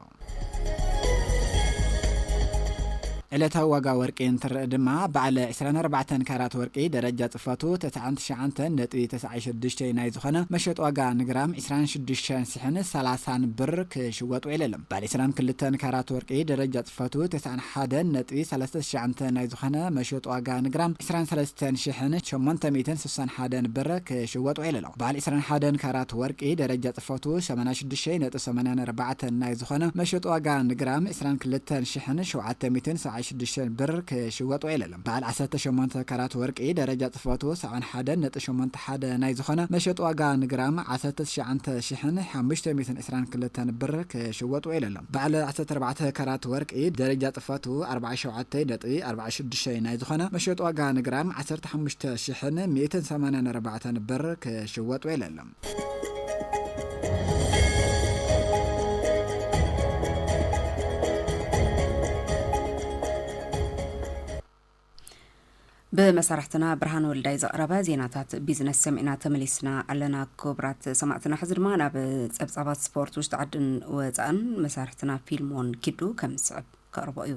Speaker 14: ዕለታዊ ዋጋ ወርቂ እንትረኣ ድማ በዓል ዕስራን ኣርባዕተን ካራት ወርቂ ደረጃ ጽፈቱ ተስዓን ትሽዓንተን ነጥቢ ተስዓይ ሽዱሽተይ ናይ ዝኾነ መሸጢ ዋጋ ንግራም ዕስራን ሽዱሽተን ሽሕን ሰላሳን ብር ክሽወጥ ውዒለሉ። ባሌስራን ክልተን ካራት ወርቂ ደረጃ ጽፈቱ ተስዓን ሓደን ነጥቢ ሰለስተ ትሽዓንተ ናይ ዝኾነ መሸጦ ዋጋ ንግራም ዕስራን ሰለስተን ሽሕን ሸሞንተ ሚእትን ስሳን ሓደን ብር ክሽወጥ ውዒለሉ። ባል ዕስራን ሓደን ካራት ወርቂ ደረጃ ጽፈቱ ሸማንያ ሽዱሽይ ነጥቢ ሰማንያን ኣርባዕተን ናይ ዝኾነ መሸጦ ዋጋ ንግራም ዕስራን ክልተን ሽሕን ሸውዓተ ሚእትን ሰብዓን ሽዱሽተን ብር ክሽወጥ ውዒለሉ። በዓል ዓሰርተ ሸሞንተ ካራት ወርቂ ደረጃ ፅፈቱ ሳዕን ሓደን ነጥቢ ሸሞንተ ሓደ ናይ ዝኾነ መሸጢ ዋጋ ንግራም ዓሰርተ ትሽዓንተ ሽሕን ሓሙሽተ ሚእትን ዕስራን ክልተን ብር ክሽወጥ ውዒሉ ኣሎ። በዓል ዓሰርተ ኣርባዕተ ካራት ወርቂ ደረጃ ፅፈቱ ኣርብዓን ሸውዓተይ ነጥቢ ኣርብዓን ሽዱሽተይ ናይ ዝኾነ መሸጢ ዋጋ ንግራም ዓሰርተ ሓሙሽተ ሽሕን ሚእትን ሰማንያን ኣርባዕተን ብር ክሽወጥ ውዒሉ ኣሎ።
Speaker 1: ብመሳርሕትና ብርሃን ወልዳይ ዘቕረበ ዜናታት ቢዝነስ ሰሚዕና ተመሊስና ኣለና ክቡራት ሰማዕትና ሕዚ ድማ ናብ ጸብጻባት ስፖርት ውሽጢ ዓድን ወፃእን መሳርሕትና ፊልሞን ኪዱ ከም ዝስዕብ ከቕርቦ እዩ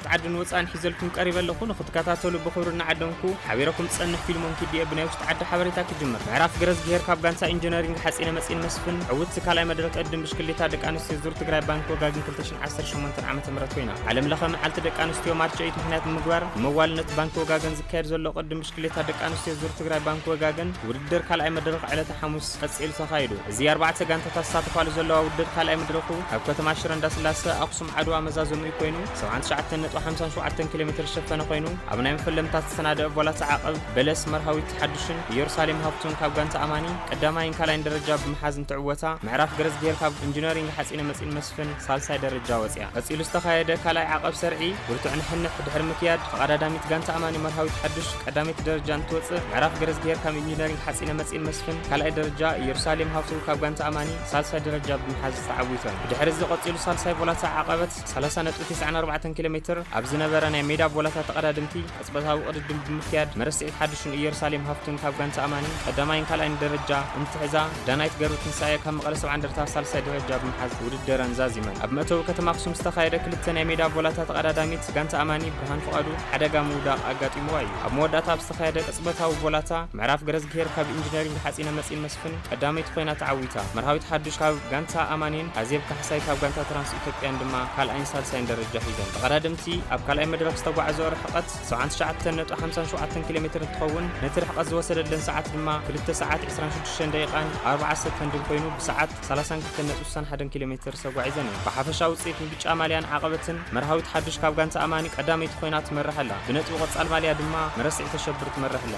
Speaker 2: ዓድን ወጻእን ሒዘልኩም ቀሪበ ኣለኹ ንኽትከታተሉ ብኽብሪ እናዓደምኩ ሓቢረኩም ዝጸንሕ ፊልሞን ኪድየ ብናይ ውሽጢ ዓዲ ሓበሬታ ክጅምር ምዕራፍ ገረዝግሄር ካብ ጋንታ ኢንጂነሪንግ ሓጺነ መጺን መስፍን ዕውት ካልኣይ መድረክ ቅድም ብሽክሌታ ደቂ ኣንስትዮ ዙር ትግራይ ባንክ ወጋግን 2018 ዓ ም ኮይና ዓለም ለኸ መዓልቲ ደቂ ኣንስትዮ ማርች ኦይት ምክንያት ብምግባር መዋልነት ባንክ ወጋገን ዝካየድ ዘሎ ቅድም ብሽክሌታ ደቂ ኣንስትዮ ዙር ትግራይ ባንክ ወጋገን ውድድር ካልኣይ መድረክ ዕለተ ሓሙስ ቀጺሉ ተኻይዱ እዚ ኣርባዕተ ጋንታታት ዝሳተፋሉ ዘለዋ ውድድር ካልኣይ መድረኩ ኣብ ከተማ ሽረ እንዳስላሰ ኣክሱም ዓድዋ መዛዘሚኡ ኮይኑ ሰብዓን ትሽዓተን ነጥቢ ሓምሳን ሸውዓተን ኪሎ ሜትር ዝሸፈነ ኮይኑ ኣብ ናይ መፈለምታ ዝተሰናደአ ቮላሳ ዓቐብ በለስ መርሃዊት ሓዱሽን ኢየሩሳሌም ሃብቱን ካብ ጋንታ ኣማኒ ቀዳማይን ካልኣይን ደረጃ ብምሓዝ እንትዕወታ ምዕራፍ ገረዝጊሄር ካብ ኢንጂነሪንግ ሓፂነ መፂን መስፍን ሳልሳይ ደረጃ ወፅያ። ቀፂሉ ዝተኻየደ ካልኣይ ዓቐብ ሰርዒ ብርቱዕ ንሕንሕ ድሕሪ ምክያድ ተቐዳዳሚት ጋንታ ኣማኒ መርሃዊት ሓዱሽ ቀዳመይቲ ደረጃ እንትወፅእ ምዕራፍ ገረዝጊሄር ካብ ኢንጂነሪንግ ሓፂነ መፂን መስፍን ካልኣይ ደረጃ ኢየሩሳሌም ሃብቱ ካብ ጋንታ ኣማኒ ሳልሳይ ደረጃ ብምሓዝ ተዓዊተን። ብድሕሪ'ዚ ቀጺሉ ሳልሳይ ቦላታ ዓቐበት፣ ሰላሳ ነጥቢ ተስዓን ኣርባዕተን ኪሎ ሜትር፣ ኣብ ዝነበረ ናይ ሜዳ ቦላታ ተቐዳደምቲ፣ ቅጽበታዊ ቅድድም ብምክያድ መረስዒት ሓዱሽን እየሩሳሌም ሃፍቱን ካብ ጋንታ ኣማኒ ቀዳማይን ካልኣይን ደረጃ እንትሕዛ፣ ዳናይት ገብረትንሳኤ ካብ መቐለ ሰብዓ እንደርታ ሳልሳይ ደረጃ ብምሓዝ ውድድረን ዛዚመን። ኣብ መእተዊ ከተማ ኣኽሱም ዝተኻየደ ክልተ ናይ ሜዳ ቦላታ ተቐዳዳሚት ጋንታ ኣማኒ ብርሃን ፍቓዱ ሓደጋ ምውዳቕ ኣጋጢምዋ እዩ። ኣብ መወዳእታ ኣብ ዝተኻየደ ቅጽበታዊ ቦላታ፣ ምዕራፍ ገረዝግሄር ካብ ኢንጂነሪንግ ሓጺነ መጺን መስፍን፣ ቀዳመይቲ ኮይና ተዓዊታ። መርሃዊት ሓዱሽ ካብ ጋንታ ኣማኒን ኣዜብ ካሕሳይ ካብ ጋንታ ትራንስ ኢትዮጵያን ድማ ካልኣይን
Speaker 15: ሳልሳይን ደረጃ ሒዘን። ተቐዳደምቲ ኣብ ካልኣይ መድረኽ ዝተጓዕዘኦ ርሕቐት ሰብዓን ትሽዓተን ነጥቢ ሓምሳን ሸውዓተን ኪሎ ሜትር እንትኸውን ነቲ ርሕቐት ዝወሰደለን ሰዓት ድማ ክልተ ሰዓት ዕስራን ሽዱሽተን ደቂቓን ኣርብዓ ሰከንድን ኮይኑ ብሰዓት ሰላሳን ክልተን ነጥቢ ስሳን ሓደን ኪሎ ሜትር ዝተጓዒዘን እየን። ብሓፈሻ ውፅኢት ብብጫ ማልያን ዓቐበትን መርሃዊት ሓዱሽ ካብ ጋንታ ኣማኒ ቀዳመይቲ ኮይና ትመርሕ ኣላ። ብነጥቢ ቆፃል ማልያ ድማ መረስዒ ተሸብር ትመርሕ ኣላ።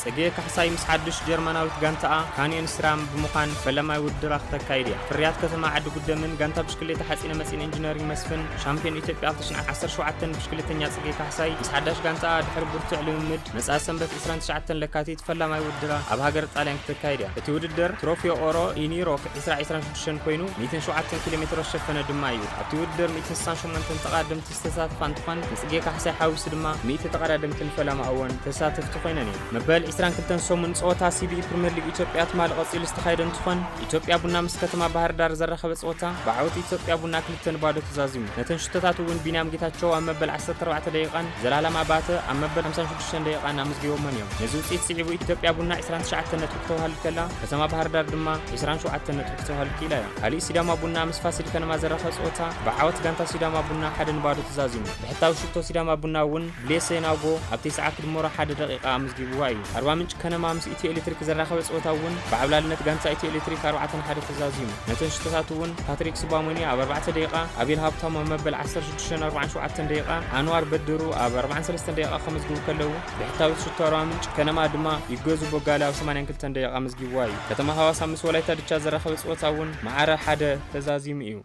Speaker 15: ጽጌ ካሕሳይ ምስ ሓዱሽ ጀርመናዊት ጋንታኣ ካንዮን ስራም ብምዃን ፈለማይ ውድድራ ክተካይድ እያ። ፍርያት ከተማ ዓዲጉደምን ጋንታ ብሽክሌታ ሓጺነ መጺን ኢንጂነሪንግ መስፍን፣ ሻምፕዮን ኢትዮጵያ ኣልተ ሽሕ ዓሰርተ ሸውዓተ ን ብሽክሌተኛ ጽጌ ካሕሳይ ምስ ሓዳሽ ጋንታኣ ድሕሪ ብርቱዕ ልምምድ መጻኢ ሰንበት ዕስራን ትሽዓተን ለካቲት ፈላማይ ውድድራ ኣብ ሃገረ ጣልያን ክተካይድ እያ። እቲ ውድድር ትሮፊዮ ኦሮ ኢን ዩሮፕ ዕስራ ዕስራን ሽዱሽተን ኮይኑ ሚእትን ሸውዓተን ኪሎሜትሮ ዝሸፈነ ድማ እዩ። ኣብቲ ውድድር ሚእትን ስሳን ሸሞንተን ተቐዳደምቲ ዝተሳተፋ እንትኾን ንፅጌ ካሕሳይ ሓዊሱ ድማ ሚእቲ ተቐዳደምትን ፈለማ እወን ተሳተፍቲ ኮይነን እየን። መበል ዕስራን ክልተን ሰሙን ፀወታ ሲቢኢ ፕሪሚየር ሊግ ኢትዮጵያ ትማሊ ቀፂሉ ዝተኻየደ እንትኾን ኢትዮጵያ ቡና ምስ ከተማ ባህርዳር ዘራኸበ ፀወታ ብዓወት ኢትዮጵያ ቡና ክልተ ን ባዶ ተዛዚሙ። ነተን ሽቶታት እውን ቢንያም ጌታቸው ኣብ መበል ዓሰርተ ኣርባዕተ ደቂቓን ዘላለም ኣባተ ኣብ መበል ሓምሳን ሽዱሽተን ደቂቓን ኣመዝጊቦመን እዮም። ነዚ ውፅኢት ስዒቡ ኢትዮጵያ ቡና ዕስራን ትሽዓተን ነጥቢ ክተውሃልድ ከላ ከተማ ባህርዳር ድማ ዕስራን ሸውዓተን ነጥቢ ክተውሃልድ ክኢላ እያ። ካሊእ ሲዳማ ቡና ምስ ፋሲል ከነማ ዘራኸብ ፀወታ ብዓወት ጋንታ ሲዳማ ቡና ሓደ ንባዶ ተዛዚሙ። ብሕታዊ ሽቶ ሲዳማ ቡና እውን ብሌሰ ናጎ ኣብ ተስዓ ክድመሮ ሓደ ደቂቃ ኣመዝጊብዋ እዩ። ኣርባ ምንጭ ከነማ ምስ ኢትዮ ኤሌክትሪክ ዘራኸበ ፀወታ እውን ብዓብላልነት ጋንታ ኢትዮ ኤሌክትሪክ ኣርባዕተ ን ሓደ ተዛዚሙ። ነተን ሽቶታት እውን ፓትሪክ ሱባሞኒ ኣብ ኣርባዕተ ደቂቃ፣ ኣቤል ሃብታሙ ኣብ መበል ዓሰርተ ሽዱሽተ ን ኣርባዓን ሸውዓተን ደቂቃ፣ ኣንዋር በድሩ ኣብ ኣርባዓን ሰለስተን ደቂቃ ከመዝግቡ ከለው፣ ብሕታዊት ሽቶ ኣርባ ምንጭ ከነማ ድማ ይገዙ ቦጋለ ኣብ 82 ደቂቓ ኣመዝጊብዋ እዩ። ከተማ ሃዋሳ ምስ ወላይታ ድቻ ዘራኸበ ፀወታ እውን መዓረ ሓደ ተዛዚሙ እዩ።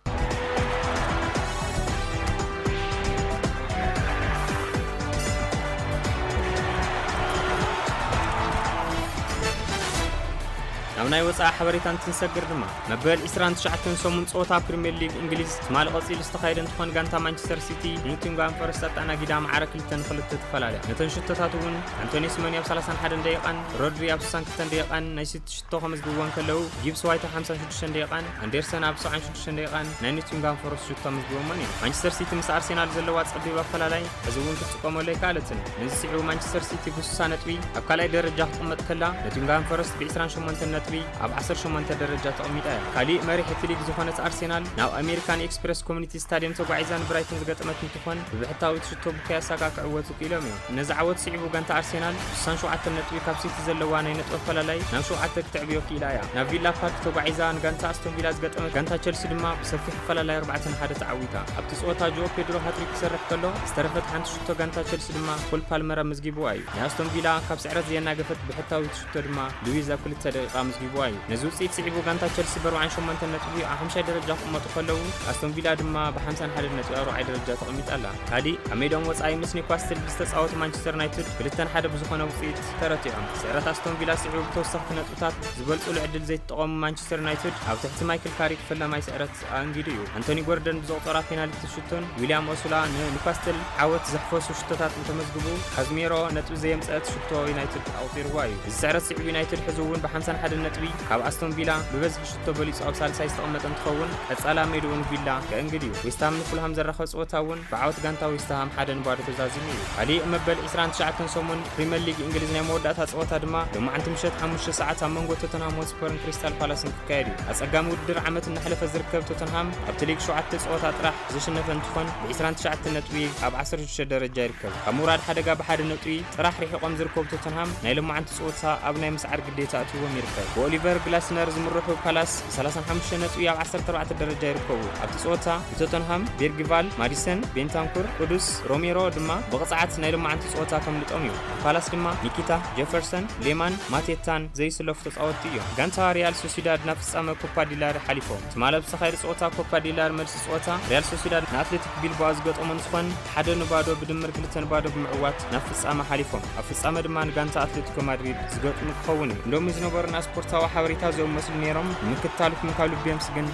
Speaker 15: ናብ ናይ ወፃኢ ሓበሬታ እንትንሰግር ድማ መበል 29 ሰሙን ፀወታ ፕሪምየር ሊግ እንግሊዝ ትማሊ ቀፂሉ ዝተኻየደ እንትኾን ጋንታ ማንቸስተር ሲቲ ኖቲንግሃም ፎረስት ኣተኣናጊዳ መዓረ እተን ክልተ ትፈላለያ ነተን ሽቶታት እውን ኣንቶኒ ስመኒ ኣብ 31 ደቂቓን ሮድሪ ኣብ 62 ደቂቓን ናይ ሲቲ ሽቶ ከመዝግብዎ እንከለዉ ጊብስ ዋይት ኣብ 56 ደቂቓን ኣንደርሰን ኣብ 76 ደቂቓን ናይ ኖቲንጋም ፎረስት ሽቶ ኣመዝግቦሞን እዮም ማንቸስተር ሲቲ ምስ ኣርሴናል ዘለዋ ጸቢብ ኣፈላላይ እዚ እውን ክትጥቀመሉ ኣይከኣለትን ነዚ ስዒቡ ማንቸስተር ሲቲ ብሱሳ ነጥቢ ኣብ ካልኣይ ደረጃ ክቕመጥ ከላ ኖቲንጋም ፎረስት ብ28 ነጥቢ ኣብ 18 ደረጃ ተቐሚጣ እያ ካሊእ መሪሕ እቲ ሊግ ዝኾነት ኣርሴናል ናብ ኣሜሪካን ኤክስፕረስ ኮሚኒቲ ስታድየም ተጓዒዛ ንብራይተን ዝገጠመት ይኹን ብብሕታዊ ትሕዝቶ ብክያሳ ከኣ ክዕወቱ ክኢሎም እዮም። ነዚ ዓወት ስዒቡ ጋንታ ኣርሴናል ስሳን ሸውዓተን ነጥቢ ካብ ሲቲ ዘለዋ ናይ ነጥቢ ኣፈላላይ ናብ ሸውዓተ ክተዕብዮ ክኢላ እያ። ናብ ቪላ ፓርክ ተጓዒዛ ንጋንታ ኣስቶን ቪላ ዝገጠመት ጋንታ ቸልሲ ድማ ብሰፊሕ ኣፈላላይ ኣርባዕተ ን ሓደ ተዓዊታ። ኣብቲ ጸወታ ጆኦ ፔድሮ ሃትሪክ ክሰርሕ ከሎ ዝተረፈት ሓንቲ ሽቶ ጋንታ ቸልሲ ድማ ኮል ፓልመር ኣመዝጊቡዋ እዩ። ናይ ኣስቶን ቪላ ካብ ስዕረት ዘየናገፈት ብሕታዊ ሽቶ ድማ ሉዊዝ ኣብ ክልተ ደቂቃ ኣመዝጊቡዋ እዩ። ነዚ ውጽኢት ስዒቡ ጋንታ ቸልሲ በርብዓን ሸሞንተን ነጥቢ ኣብ ሓምሻይ ደረጃ ክቕመጡ ከለዉ፣ ኣስቶን ቪላ ድማ ብሓምሳን ሓደን ነጥቢ ኣብ ራብዓይ ደረጃ ተቐሚጣ ኣላ። ካሊእ ኣብ ሜድኦም ወጻኢ ምስ ኒውካስትል ብዝተጻወቱ ማንቸስተር ዩናይትድ ክልተ ን ሓደ ብዝኾነ ውጽኢት ተረቲዖም። ስዕረት ኣስቶን ቪላ ስዒቡ ብተወሰኽቲ ነጥብታት ዝበልጹሉ ዕድል ዘይትጠቐሙ ማንቸስተር ዩናይትድ ኣብ ትሕቲ ማይክል ካሪክ ፈላማይ ስዕረት ከኣ እንጊዱ እዩ። ኣንቶኒ ጎርደን ብዘቑጸራ ፔናልቲ ሽቶን ዊልያም ኦሱላ ንኑካስትል ዓወት ዘሕፈሱ ሽቶታት እንተመዝግቡ፣ ካዝሜሮ ነጥቢ ዘየምጸእት ሽቶ ዩናይትድ ኣቑጺርዋ እዩ። እዚ ስዕረት ስዒቡ ዩናይትድ ሕዚ እውን ብሓምሳን ሓደን ነጥቢ ካብ ኣስቶን ቪላ ብበዝሒ ሽቶ በሊጹ ኣብ ሳልሳይ ዝተቐመጠ እንትኸውን፣ ቀጻላ ሜድኡ ንቪላ ከእንግድ እዩ። ዌስትሃም ንፉልሃም ዘራኸብ ጸወታ እውን ብዓወት ጋንታ ዌስትሃም ሓደ ን ባዶ ተዛዚሙ እዩ። ካሊእ መበል ዕስራን ትሽዓተን ሰሙን ፕሪመር ሊግ እንግሊዝ ናይ መወዳእታ ጸወታ ድማ ሎማዕንቲ ምሸት ሓሙሽተ ሰዓት ኣብ መንጎ ቶተንሃም ሆትስፐርን ክሪስታል ፓላስን ተካየዱ። ኣጸጋሚ ውድድር ዓመት እናሕለፈ ዝርከብ ቶተንሃም ኣብቲ ሊግ ሸውዓተ ጸወታ ጥራሕ ዝሽነፈ እንትኾን ብ ዕስራን ትሽዓተን ነጥቢ ኣብ ዓሰርተ ሽዱሽተ ደረጃ ይርከብ። ካብ ምውራድ ሓደጋ ብሓደ ነጥቢ ጥራሕ ርሒቖም ዝርከቡ ቶተንሃም ናይ ሎማዓንቲ ጸወታ ኣብ ናይ ምስዓር ግዴታ ኣእትይዎም ይርከብ። ብኦሊቨር ግላስነር ዝምርሑ ፓላስ ብ ሰላሳን ሓሙሽተን ነጥቢ ኣብ ዓሰርተ ኣርባዕተ ደረጃ ይርከቡ። ኣብቲ ጸወታ ንቶተንሃም ቤርጊቫል፣ ማዲሰን፣ ቤንታንኩር፣ ቁዱስ፣ ሮሜሮ ድማ ብቕጽዓት ናይ ሎማዓንቲ ጸወታ ከምልጦም እዩ። ንፓላስ ድማ ኒኪታ፣ ጀፈርሰን፣ ሌማን፣ ማቴታን፣ ዘይስለፉ ተጻወትቲ እዮም። ጋንታ ሪያል ሶሲዳድ ናብ ፍጻመ ኮፓ ዲላሪ ሓሊፎም። ትማል ኣብ ዝተኻየደ ጸወታ ኮፓ ዲላሪ መልሲ ጸወታ፣ ሪያል ሶሲዳድ ንኣትሌቲክ ቢልባኦ ዝገጠሞ ንዝኾን ሓደ ን ባዶ ብድምር ክልተ ን ባዶ ብምዕዋት ናብ ፍጻመ ሓሊፎም። ኣብ ፍጻመ ድማ ንጋንታ ኣትሌቲኮ ማድሪድ ዝገጥሙ ክኸውን እዩ። ሎሚ ዝነበሩና ስፖርታዊ ሓበሬታ እዚኦም መስሉ ኔሮም ንምክትታልኩም ካብ ልቢ የምስግን።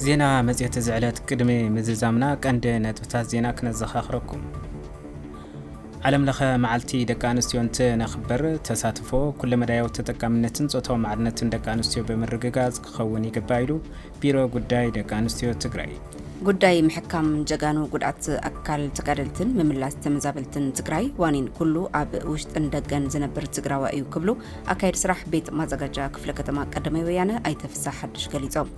Speaker 2: ዜና መፅሄት እዚ ዕለት ቅድሚ ምዝዛምና ቀንዲ ነጥብታት ዜና ክነዘኻኽረኩም። ዓለም ለኸ መዓልቲ ደቂ ኣንስትዮ እንትነኽብር ተሳትፎ፣ ኩለመዳያዊ ተጠቃምነትን ፆታዊ ማዕርነትን ደቂ ኣንስትዮ ብምርግጋፅ ክኸውን ይግባእ ኢሉ ቢሮ ጉዳይ ደቂ ኣንስትዮ ትግራይ። ጉዳይ
Speaker 1: ምሕካም ጀጋኑ ጉድኣት ኣካል ተጋደልትን ምምላስ ተመዛበልትን ትግራይ ዋኒን ኩሉ ኣብ ውሽጥን ደገን ዝነብር ትግራዋ እዩ ክብሉ ኣካየዲ ስራሕ ቤት ማዘጋጃ ክፍለ ከተማ ቀዳማይ ወያነ ኣይተ ፍስሃ ሓዱሽ ገሊፆም።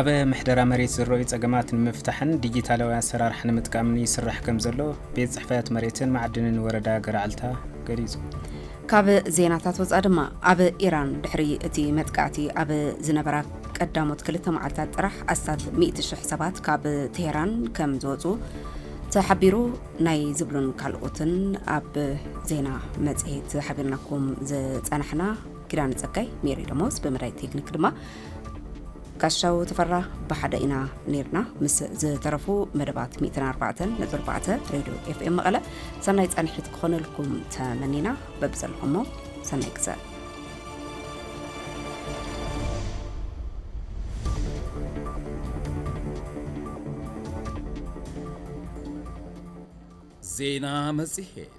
Speaker 1: ኣብ
Speaker 2: ምሕደራ መሬት ዝረኣዩ ፀገማት ንምፍታሕን ዲጂታላዊ ኣሰራርሓ ንምጥቃምን ይስራሕ ከምዘሎ ቤት ፅሕፈት መሬትን ማዕድንን ወረዳ ገረዓልታ ገሊፁ። ካብ
Speaker 1: ዜናታት ወፃ ድማ ኣብ ኢራን ድሕሪ እቲ መጥቃዕቲ ኣብ ዝነበራ ቀዳሞት ክልተ መዓልታት ጥራሕ ኣስታት 100,000 ሰባት ካብ ቴሄራን ከም ዝወፁ ተሓቢሩ ናይ ዝብሉን ካልኦትን ኣብ ዜና መፅሄት ሓቢርናኩም ዝፀናሕና ኪዳን ፀጋይ ሜሪ ደሞዝ ብመዳይ ቴክኒክ ድማ ጋሻው ተፈራ ብሓደ ኢና ነርና ምስ ዝተረፉ መደባት 104.4 ሬድዮ ኤፍኤም መቐለ ሰናይ ፃንሒት ክኾነልኩም ተመኒና በብዘለኹሞ ሰናይ ግዘ
Speaker 16: ዜና መጽሔት